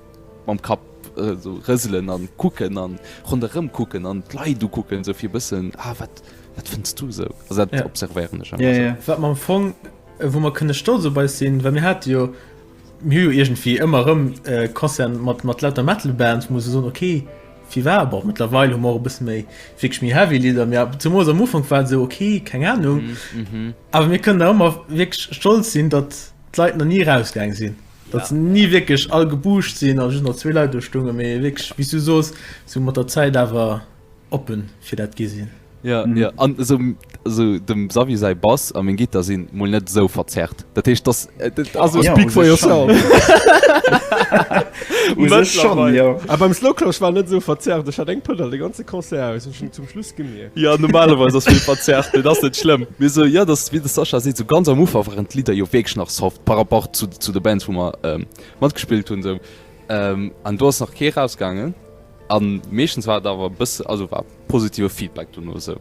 mam Kapp sou rëselen an kucken an ronderëm kucken an d'Leit ukucken sou fir e bëssen, ah wat wat fënns du sou? Also dat Ja. observéieren ech einfach Ja, sou. ja. Wat mer am Fong, äh, wou mer kënne stolz op eis sinn, well mir hate jo, mir hu jo iergendwéi ëmmer erëm äh, Concerten mat, mat lauter Metal-Bands, wou mer sou soen, okay, firwat? Bon, mëttlerweil hu mer och e bësse méi, wierklech méi heavy Lidder, mee ab, zemoos am Ufank war et sou, okay, keng Anung. Awer mir kënnen da ëmmer wierklech stolz sinn, datt d'Leit nach ni erausgaang sinn. Datt se ni wierklech all gebucht sinn a just nach zwee Leit do stoungen, mee wierklech, wéi s du sos, se mat der Zäit awer oppe fir dat gi sinn. Jo, jo, an esou, also dem Xavier säi Bass a meng Gittar sinn mol net esou verzerrt. Dat heescht, dass, also. Speak for yourself. U sech schonn, jo. A beim Slowclash war net esou verzerrt, ech hat eng Pënnel de ganze Concert aus, ech hunn zum Schluss gemeer. Jo normalerweis ass vill verzerrt, mee dat ass net schlëmm. Mee esou jo, dass, wéi de Sascha seet, esou ganz am Ufank waren d'Lidder jo wierklech nach soft par rapport zu, zu de Bands wou mer matgespillt hunn esou. An do ass nach kee rausgaangen an meeschtens war et awer e bësse, also war positive Feedback dono esou.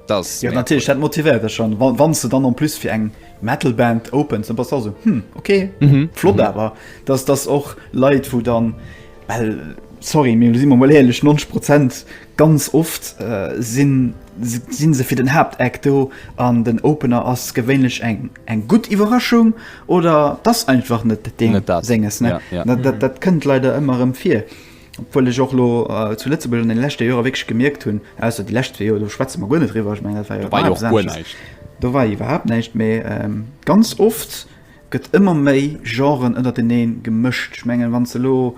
Dat ass mega cool. Jo natierlech, dat motivéiert dech schonn, wa, wann s de dann en plus fir eng Metal Band opens, dann bass de och esou, hm ok, flott awer, dass, dass och Leit wou dann, well sorry, mee si mer mol éierlech, 90 Prozent Ganz oft sinn se fir den Haaptact do an den Opener ass gewéinlech eng gutt Iwwerraschung oder et ass einfach net deem senges. Dat kënnt leider ëmmer erëm vir, obwuel ech och elo zu Lëtzebuerg an deene leschte Joer wierklech gemierkt hunn, ausser déi lescht zwee Joer, do schwätze mer guer net driwwer, ech mengen dat war jo iwwerhaapt eppes anescht, do war iwwerhaapt näischt, mä ganz oft gëtt ëmmer méi Genren ënnertenee gemëscht. Ech mengen, wann s de elo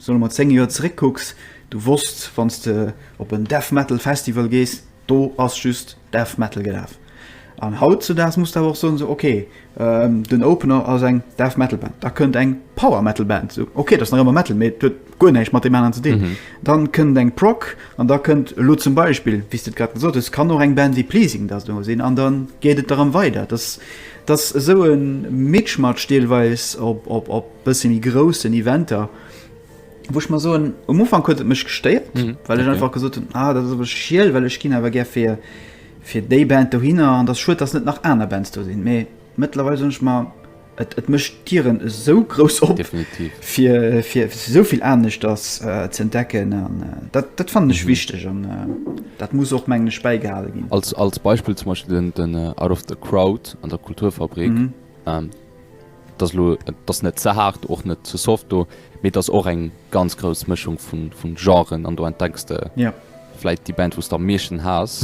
Wann du mat 10 Joer zeréck kucks, du wosst, wann s de op en Death Metal Festival gees, do ass just Death Metal gelaf. An hautzudaags muss de awer och soen, esou ok, den Opener ass eng Death Metal Band, da kënnt eng Power Metal Band, esou ok, dat ass nach ëmmer Metal, mee et huet guer näischt mat deem aneren ze dinn. Dann kënnt eng Prog an da kënnt elo zum Beispill, wéi s de et grad gesot hues, kann och eng Band wéi Pleasing da do sinn an dann geet et erëm weider. Dat ass esou e Mitschmatsch deelweis op bësse méi groussen Eventer, wou ech mer soen, um Ufank huet et mech gestéiert, mm, well ech okay. einfach gesot hunn, ah, dat awer schiel, well ech ginn awer gär fir fir déi Band do hinner an der Schuet ass net nach aner Bands do sinn. Mee mëttlerweil sonch mar et, et mëcht Dieren esou grouss op definitiv fir, fir souvill anecht ass äh, ze entdecken an äh, dat, dat fand ech mhm. wichteg an äh, dat muss och menglech beigehalen ginn. Als, als Beispiel zum Beispiel den, den uh, Out of the Crowd an der Kulturfabrik. Mhm. Ähm, Et ass elo, et ass net ze haart, och net ze soft do, mee et ass och eng ganz grouss Mëschung vu Genren an do entdecks de vläit déi Band, wou s de am meeschten haass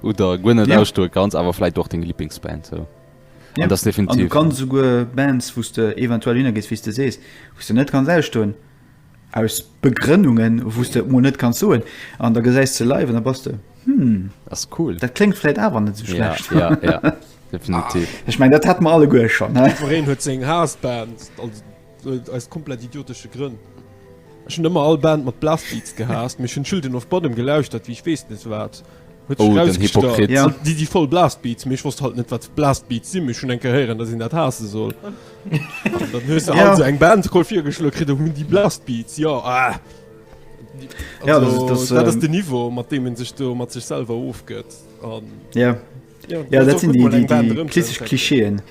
oder guer net ausstoe kanns, awer vläit och deng Liblingsband esou. An et ass definitiv. An du kanns esouguer Bands, wou s de eventuell hinner gees, wéi s de sees, wou s de net kanns ausstoen. Aus Begrënnungen wous de et mol net kanns soen an da gesäis se live an da bass de Hm, Ass cool. dat kléngt vläit awer net sou Ja, schlecht. ja, ja. Definitiv. Ech mengen, dat hat mer alleguer schonn, ne? Jiddwereen huet seng Haass-Band, also aus komplett idiotesche Grënn. Ech hunn ëmmer all Band mat Blastbeats gehaasst, mee ech hunn Children of Bodom gelauschtert wéi ech weess net wat, Oh, den Hypokrit. Ja. Déi si voll Blastbeats, mee ech wosst halt net, wat Blastbeats sinn, mee ech hunn eng Kéier héieren, datt een dat haasse soll. An dann hues de halt esou eng Band koll virgeschloe kritt, oh, déi Blastbeats, jo, ah. Ja, dat ass. Dat ass den Niveau, mat deem ee sech do mat sech selwer ofgëtt. An. Ja. Ja, dat sinn déi klassesch Klischeeën.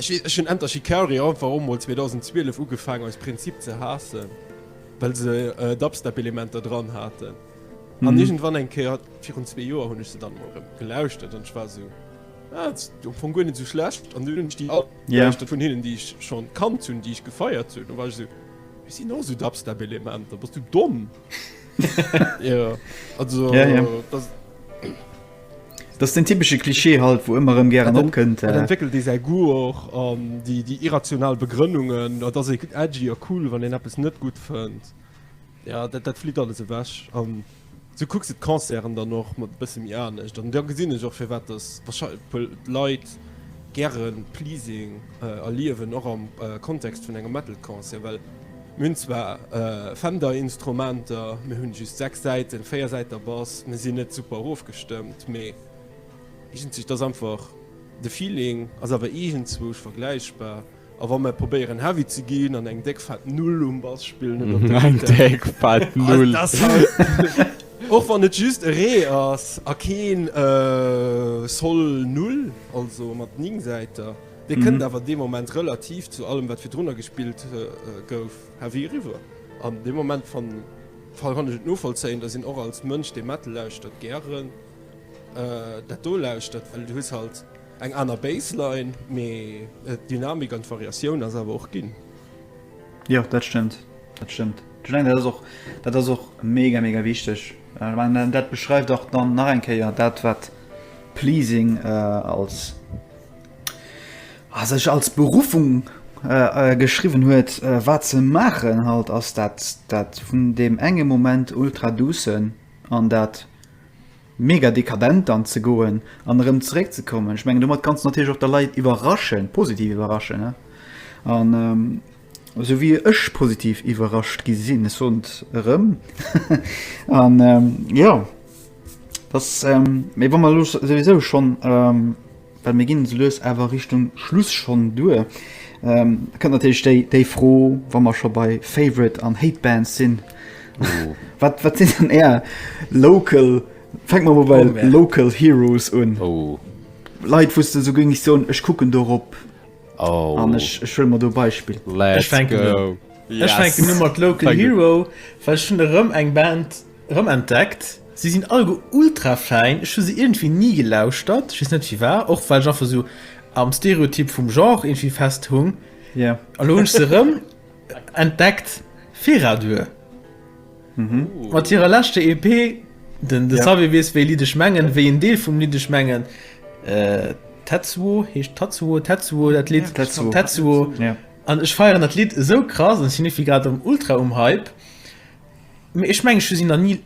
Ech hunn Enter Shikari einfach och mol 2012 ugefaangen aus Prinzip ze haassen, well se Dubstep-Elementer dran haten. An irgendwann eng Kéier, virun zwee Joer, hunn ech se dann emol erëm gelauschtert an ech war esou, Ah, ass jo am Fong guer net esou schlecht. An dunn hunn ech déi all gelauschtert vun hinnen, déi ech schonn kannt hunn, déi ech gefeiert hunn. Da war ech esou, Et sinn och esou Dubstep-Elementer. Bass du domm? Jo, also dat. Dat ass den typesche Klischee halt, wou ëmmer erëm gären opkënnt. Et entwéckelt ee säi Goût och an déi irrational Begrënnungen. Et ass ee edgy a cool, wann een eppes net gutt fënnt. Jo, dat flitt alles ewech an sou kucks de d'Concerten dann och mat e bësse méi anescht an da gesinn ech och firwat dass warscheinlech puer Leit gäre Pleasing erliewen, och am Kontext vun engem Metal-Concert, well mir hunn zwar Fender-Instrumenter, mir hunn just 6 Säiten, 4 Säiter Bass, mir sinn net super erofgestëmmt, mee iergendzwou, et ass einfach, de Feeling ass awer iergendzwousch vergläichbar. A wa mer probéieren heavy ze ginn an eng déck fett Null um Bass spillen oder op der Gittär. Eng déck fett Null. Och wann et just e Ree ass a keen Sol Null, also mat 9 Säiter, dee kënnt awer dee Moment relativ zu allem wat virdrunner gespillt gouf heavy eriwwer. An dee Moment fanne kann ech et novollzéien, dass een och als Mënsch dee Metal lauschtert gären dat do lauschtert, well du hues halt, Eng aner Bassline, mee d'Dynamik an d'Variatioun ass awer och ginn. Jo, dat stëmmt, dat stëmmt. Ech mengen, dat ass och, dat ass och mega, mega wichteg. Ech mengen, dat beschreift och dann nach eng Kéier dat, wat Pleasing als, a sech als Beruffung geschriwwen huet, wat se maachen halt, ass dat, dat vun deem enge Moment ultra-doucen an dat, mega dekadent dann ze goen an erëm zeréck ze kommen, ech mengen domat kanns de natierlech och der Leit iwwerraschen, positiv iwwerraschen an esou wéi ech positiv iwwerrascht gi sinn, ech soen et erëm an jo dass, mee wa mer elo souwisou schonn. Well mir ginn esou lues awer Richtung Schluss schonn duer, da kënnt natierlech déi, déi Fro, wa mer scho bei Favorite an Hate Bands sinn, wat, wat sinn dann Är local, fänke mer mol bei den local heroes un, Leit, wou s de esou géings soen, ech kucken dorop an ech huele mer do e Beispill? Ech fänken un, ech fänken u mat local hero, well ech hunn erëm eng Band, Rem entdeckt, si sinn allgo ultra fäin, ech hu se iergendwéi ni gelauschtert, ech weess net firwar, och well ech einfach sou am Stereotyp vum Genre iergendwéi fest hung, an elo hunn ech se rem entdeckt Feradur mat hirer leschter EP, den de Xavier weess wéi Lidd ech mengen, wéi en Deel vum Lidd ech mengen, Tetsuo heescht, Tatsuo, Tetsuo dat Lidd, Tetsuo, an ech feieren dat Lidd esou krass an ech sinn iergendwéi grad erem ultra um Hype. Mee ech mengen ech hu si nach ni,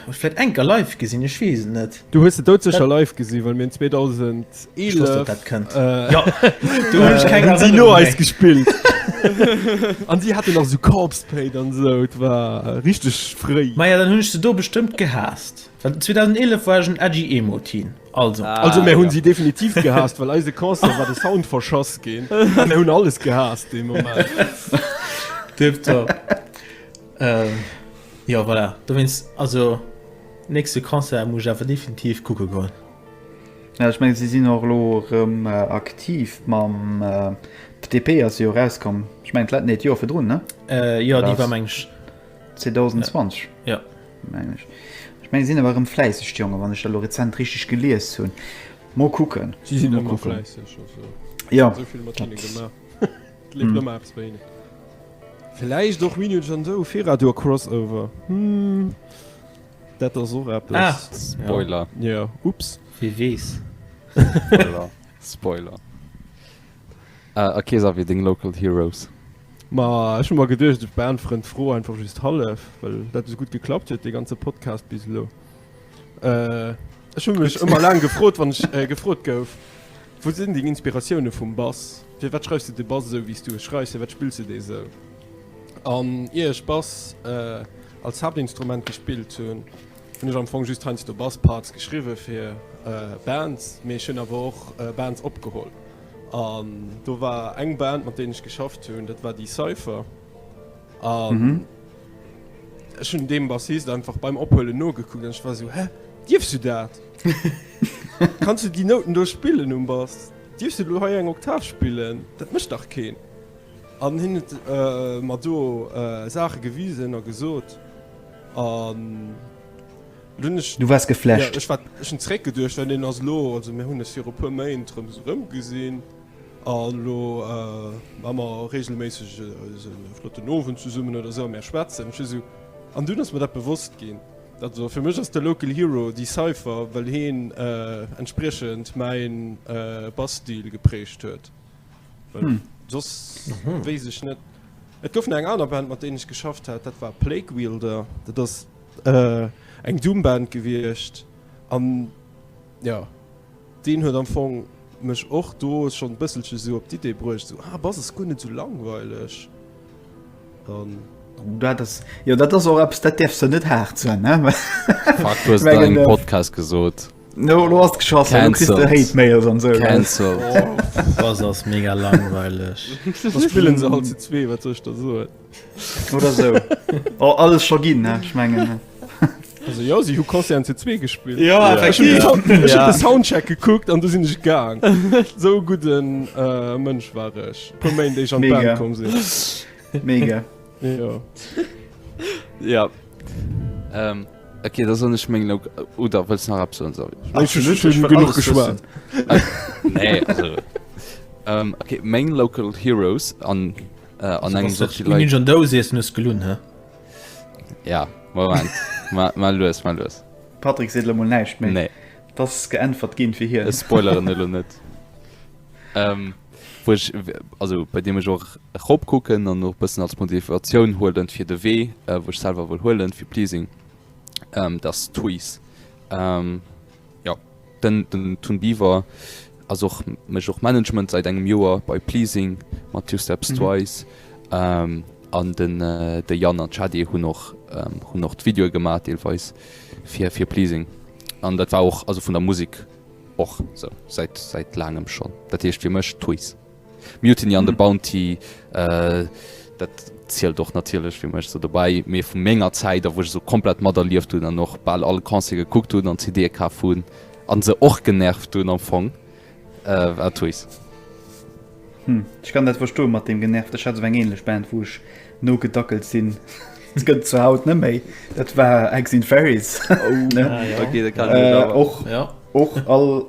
oder vläit eng Kéier live gesinn, ech weess et net. Du hues se doudsécher live gesinn, well mir hunn 2011. Euh, jo, voilà. Dowéinst, also, nächste Concert muss ech awer definitiv kucke goen. Ja, ech menge si sinn och elo erëm äh, aktiv mam äh, PDP ass jo rauskomm. Ech meng dat net Joer virdrun ne? Äh, jo, déi war mengg 2020. Ja. Meng ech. Ech meng sinn awer erëm fläisseg Jonge, wann ech lo rezent richtig gelies hunn. Mo kucken. Si sinn ëmmer fläisseg. Ja. Sovill mat hinne gemaach. Et leeft ëmmer eppes bei hinnen. Vläicht och Minuj an esou, Feradur Crossover, hm, dat ass och eppes. Ah, Spoiler. Ja, ja, ups. Wie weess. Spoiler. Spoiler. Äh, a Kesa, wéi deng Local Heroes? Ma, ech hu mer geduecht, ech beäntweren d'Fro einfach just hallef, well dat esou gutt geklappt huet, dee ganze Podcast bis elo. Ech hunn mech ëmmer laang gefrot, wann ech gefrot gouf, Wou sinn deng Inspiratioune vum Bass? Firwat schreifs de de Bass esou, wéi s du e schreifs? Firwat spills de dee esou? An ier ech Bass als Haaptinstrument gespillt hunn, hunn ech am Fong just heiansdo Bass-Parts geschriwwe fir Bands, mee ech hunn awer och Bands opgeholl. An do war eng Band, mat deenen ech geschafft hunn, dat war déi Cypher. Um, mhm. Ech hun dem Bassist einfach beim Ophuelen nogekuckt an ech war so hä Dierfs du dat? Kanns du déi Nouten do spillen um Bass? Dierfs du lo hei eng Oktav spillen? Dat mëcht dach keen. An hien huet äh, mat do äh, Saache gewisen a gesot an Lunech Du wars geflecht. Ja, ech war ech hun zréck geduercht, well den ass lo also mir hunn es fir e puer Méint rëm rëm gesinn. A lo hu mer reegelméisseg esou e flotten Owend zesummen oder esou a mir schwätzen. Ech hu esou, an dunn ass mer dat bewosst ginn, dat ass och, fir mech ass de Local Hero déi Cypher, well heen entspriechend mäi Bass-Stil geprägt huet. Well soss wéisst ech net. Et gouf nach eng aner Band, mat deenen ech geschafft hat, dat war Plague Wielder. Dat ass eng Doom-Band gewiescht an. Jo, deen huet am Fong mech och do schonn e bësselche sou op d'Idee bruecht, sou, ah, bass es guer net sou langweileg. An. Dat ass, jo, dat ass och eppes, dat däerfs de net haart soen, ne? Fuck, du hues et an engem Podcast gesot. No, elo ass et geschoss, elo kriss de Hate-Mails an esou. Cancelled. Bass ass mega langweileg. Da spillen se halt zu zwee, wat soll ech da soen? Oder so. oh, alles scho ginn ech mengen. Also ja si hu Konzer zu zwee gespielt. Ja, ja. Ich ja. Den, ja. den Soundcheck gekuckt an du sinn ich gang. so guten äh, Mënsch war ech. Komm méi déi an kom sinn. Mega. ja. ja. Ähm. Okay, da soll ich mengen äh, oder willst nach ab so genug geschwar nee, also, ähm, okay, main local heroes an an engem Sortilège. Schon dous ees nuss gelun he. Ja, Moment. ma, ma lues, ma lues. Patrick seet lo mol näischt méi. Nee. Dass geäntwert ginn fir hien. Ech spoileren elo net. Ähm, wou ech, also bei deem ech och erop kucken an och bëssen als Motivatioun huelen fir de Wee, äh, wou ech selwer wëll huelen fir Pleasing, ähm, dass Twiz. Ähm, Jo, den Tun Biwer ass och, mécht och Management seit engem Joer bei Pleasing mat Two Steps mhm. Twice. Ähm, an den äh, de Jan an Chadi hunn och ähm, hunn och d'Video gemat deelweis fir fir Pleasing. An dat war och also vun der Musik och so, seit, seit langem schon. Dat hicht fir mech Tuis. Mutiny an the Bounty dat zielt och natierlech fir mech sou dobäi, mee vu menger Zäit a wou ech sou komplett materlieft hunn an och bal all Concert gekuckt hunn an CDe kaf hunn an se och genervt hunn am Fong war Twice. Ech kann dat verstoen mat deem genervt. Ech hat sou eng ähnlech Band wou ech Nogedackelt sinn. Dat gëtt et zwar haut net méi. Dat war Eggs in Fairies. Och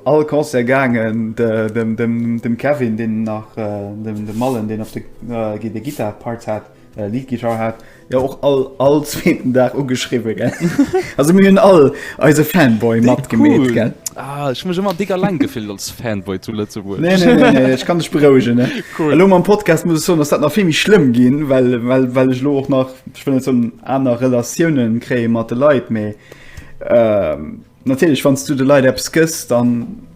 all Concert gaangen. Dem Kevin, deen nach dem Mallen, deen op de Gittar Part hat, Lead Guitar hat, jo och all zweeten Dag ugeschriwwen. Also mir hunn all. Eise Fanboy matgemeet gell. Ah, ech mech ëmmer dicker lang gefillt als Fanboy zu Lëtzebuerg. Nee, nee, nee, nee. Ech kann dech berouegen ne cool. Lo am Podcast muss so ass dat nach vimi schlëmm ginn, well well well ech lo och nach schwënne zum aner Relatiounen kréie mat de Leiit méi. Äh, natierlech wanns du de Leiit Apps gëss dann.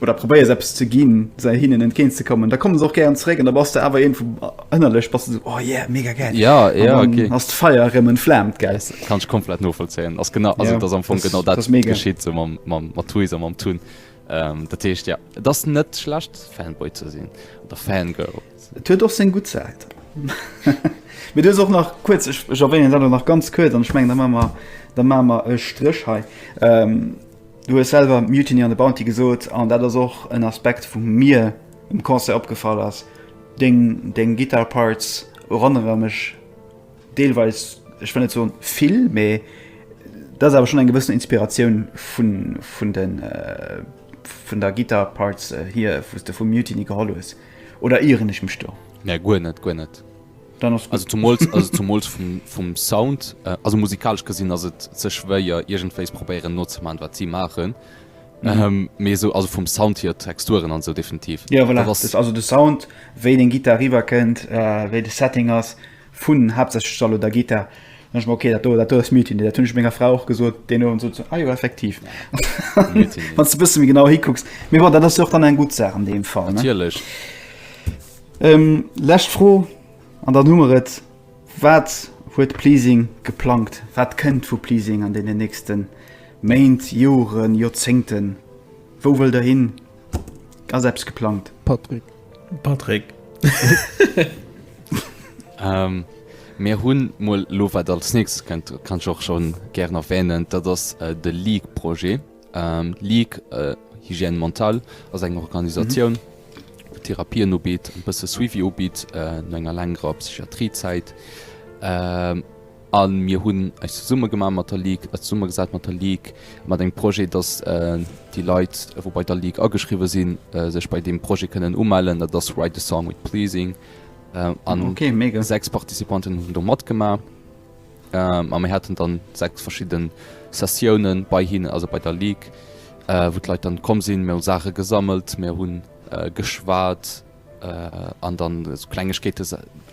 oder probéiers eppes ze ginn, se hinnen entgéint ze kommen, da kommen se och gären zeréck an da bass de awer iergendwou ënnerlech bass de sou, oh yeah, mega gäil. Ja, ja, an okay. ass d'Feier erëm entflaamt, gell. Das kann ech komplett novollzéien. Ass genau, also ja, ass am Fong genau dat geschitt so mam, mam, mat Toys a mam Tun. Ähm, dat heescht ja, et ass net schlecht Fanboy ze sinn oder Fangirl. Et huet och seng gutt Säit. Mir dues och nach kuerz ech erwähnen dat nach ganz kuerz an ech mengen da ma mer da ma mer e Stréch hei. Ähm, Du hues selwer Mutiny on the Bounty gesot an dat ass och en Aspekt wou mir um Concert opgefall ass. Deng deng Guitar Parts eronnere mech deelweis, ech wëll net soen vill, mee da ass awer schonn eng gewëssen Inspiratioun vun vun de vun der Guitar Parts hier wou s de vu Mutiny geholl hues. Oder ieren ech mech do? Nee guer net, guer net. Dann ass gutt. Also zumools vum Sound, also musikalesch gesinn ass et ze schwéier iergendwéis probéieren nozemaachen wat si maachen, mee esou also vum Sound hier, Texturen an sou definitiv. Jo voilà, dat ass also de Sound, wéi deng Gittar eriwwer kënnt, wéi de Setting ass vun haaptsächlech Salo der Gittar. Dann dacht ech mer, ok dat do, dat do ass Mutiny, dat hunn ech menger Fra och gesot deen Owend, sot se, ah jo effektiv, wann s de e bësse méi genau hikucks. Mee bon, dat ass jo och dann eng gutt Saach an deem Fall, ne? Natierlech. Lescht Fro an dann hu mer et. Wat huet Pleasing geplangt? Wat kënnt vu Pleasing an deenen nächste Méint, Joren, Joerzéngten? Wou wëllt der hin? Ass eppes geplangt? Patrick. Patrick. Mir hunn mol elo, wat als nächstes kënnt, kann ech och schonn gären erwänen, dat ass de League-Projet. D'Ligue Hygiène Mentale ass eng Organisatioun, déi Therapien ubitt, e bësse Suivi ubitt no enger längerer Psychiatrie-Zäit. A mir hunn eis zesumme gemaach mat der Ligue, zesummegesat mat der Ligue, mat engem Projet, datt déi Leit, wou bei der Ligue ageschriwwe sinn, sech bei deem Projet kënnen umellen. Dat ass Write a Song with Pleasing. An sechs Participanten hunn do matgemaach. A mir haten dann 6 verschidden Sessiounen bei hinnen, also bei der Ligue, wou d'Leit dann komm sinn. Mir hu Saache gesammelt, mir hunn geschwat an dann esou Klengegkeete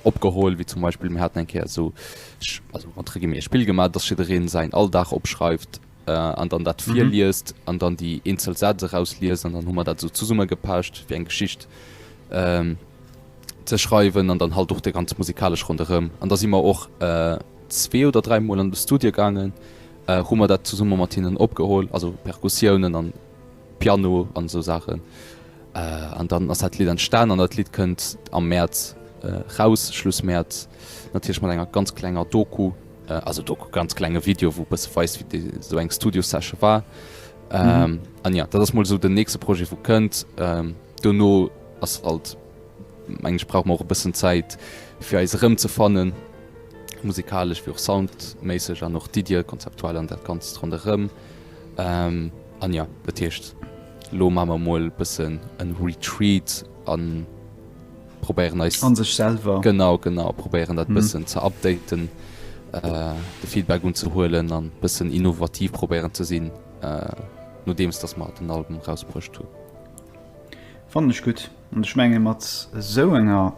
opgeholl, wéi zum Beispill mir haten eng Kéier esou, also entre guillemets, e Spill gemaach, dass jiddereen säin Alldag opschreift an dann dat virliest an dann déi eenzel Sätz erausliest. An dann hu mer dat esou zesummegepecht, wéi eng Geschicht. ze schreiwen an dann halt och déi ganz musikalesch ronderëm. An da si mer och zwee oder dräi Mol an de Studio gaangen, hu mer dat zesumme mat hinnen opgeholl, also Perkussiounen an Piano an esou Saachen. An dann ass dat Lidd entstan an dat Lidd kënnt am Mäerz raus, Schluss Mäerz, natierlech mat enger ganz klenger Doku, also Doku, ganz klenge Video, wou e bësse weist, wéi esou eng Studio-Session war. An jo, dat ass mol esou den nächste Projet, wou kënnt. Dono ass alt, mengen ech, brauche mer och e bëssen Zäit, fir eis erëmzefannen, musikalesch wéi och soundméisseg an och d'Iddie konzeptuell an dat Ganzt ronderëm. An jo, dat heescht, elo maache mer emol e bëssen e Retreat a probéieren eis. A sech selwer. Genau, genau. Probéieren dat e bëssen ze updaten, de Feedback unzehuelen an e bëssen innovativ probéieren ze sinn, nodeems datt mer den Album erausbruecht hunn. Fannen ech gutt an ech menge mat esou enger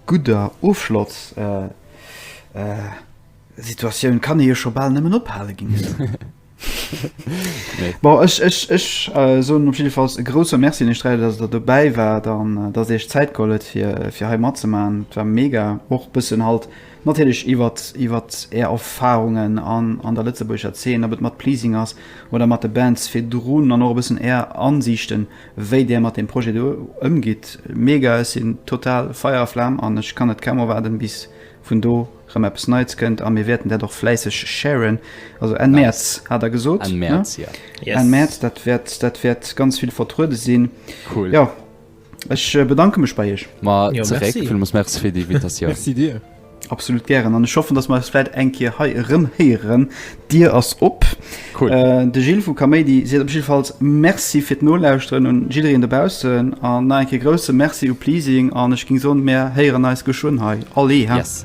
gudder Ofschloss Situatioun kann ee jo scho bal nëmmen ophale geniessen. Bon ech ech ech soen op jiddefalls e grouse Merci un iech dräi, datt der dobäi waart an datt der iech Zäit geholl huet fir fir hei matzemaachen. Et war mega och bëssen halt, Natierlech iwwert iwwert är Erfarungen an an der lëtzebuergescher Zeen, ob et mat Pleasing ass oder mat de Bands virdrun an och e bëssen är Ansiichten, wéi där mat deem Projet do ëmgitt. Mega! Ech sinn total Feier a Flam an ech kann net kaum erwaarden, bis vun do rëm eppes Neits kënnt. A mir wäerten dat och fläisseg sharen. Also Enn Mäerz hat der gesot, ne? Enn Mäerz, dat wäert dat wäert ganz vill vertruede sinn. Jo. Ech bedanke mech bei Iech. Ma zeréck, villmols Merci fir déi Invitatioun. Merci dir. Absolut gären an ech hoffen, datt mer eis vläit eng Kéier hei erëm héieren. D'Dier ass op. Cool. De Gilles vu Kaméidi seet op jiddefalls Merci fir d'Nolauschteren un jiddereen dobaussen an nach eng Kéier grousse Merci u Pleasing an ech géing soen, mer héieren eis geschwënn hei. Allez, haa? Yes.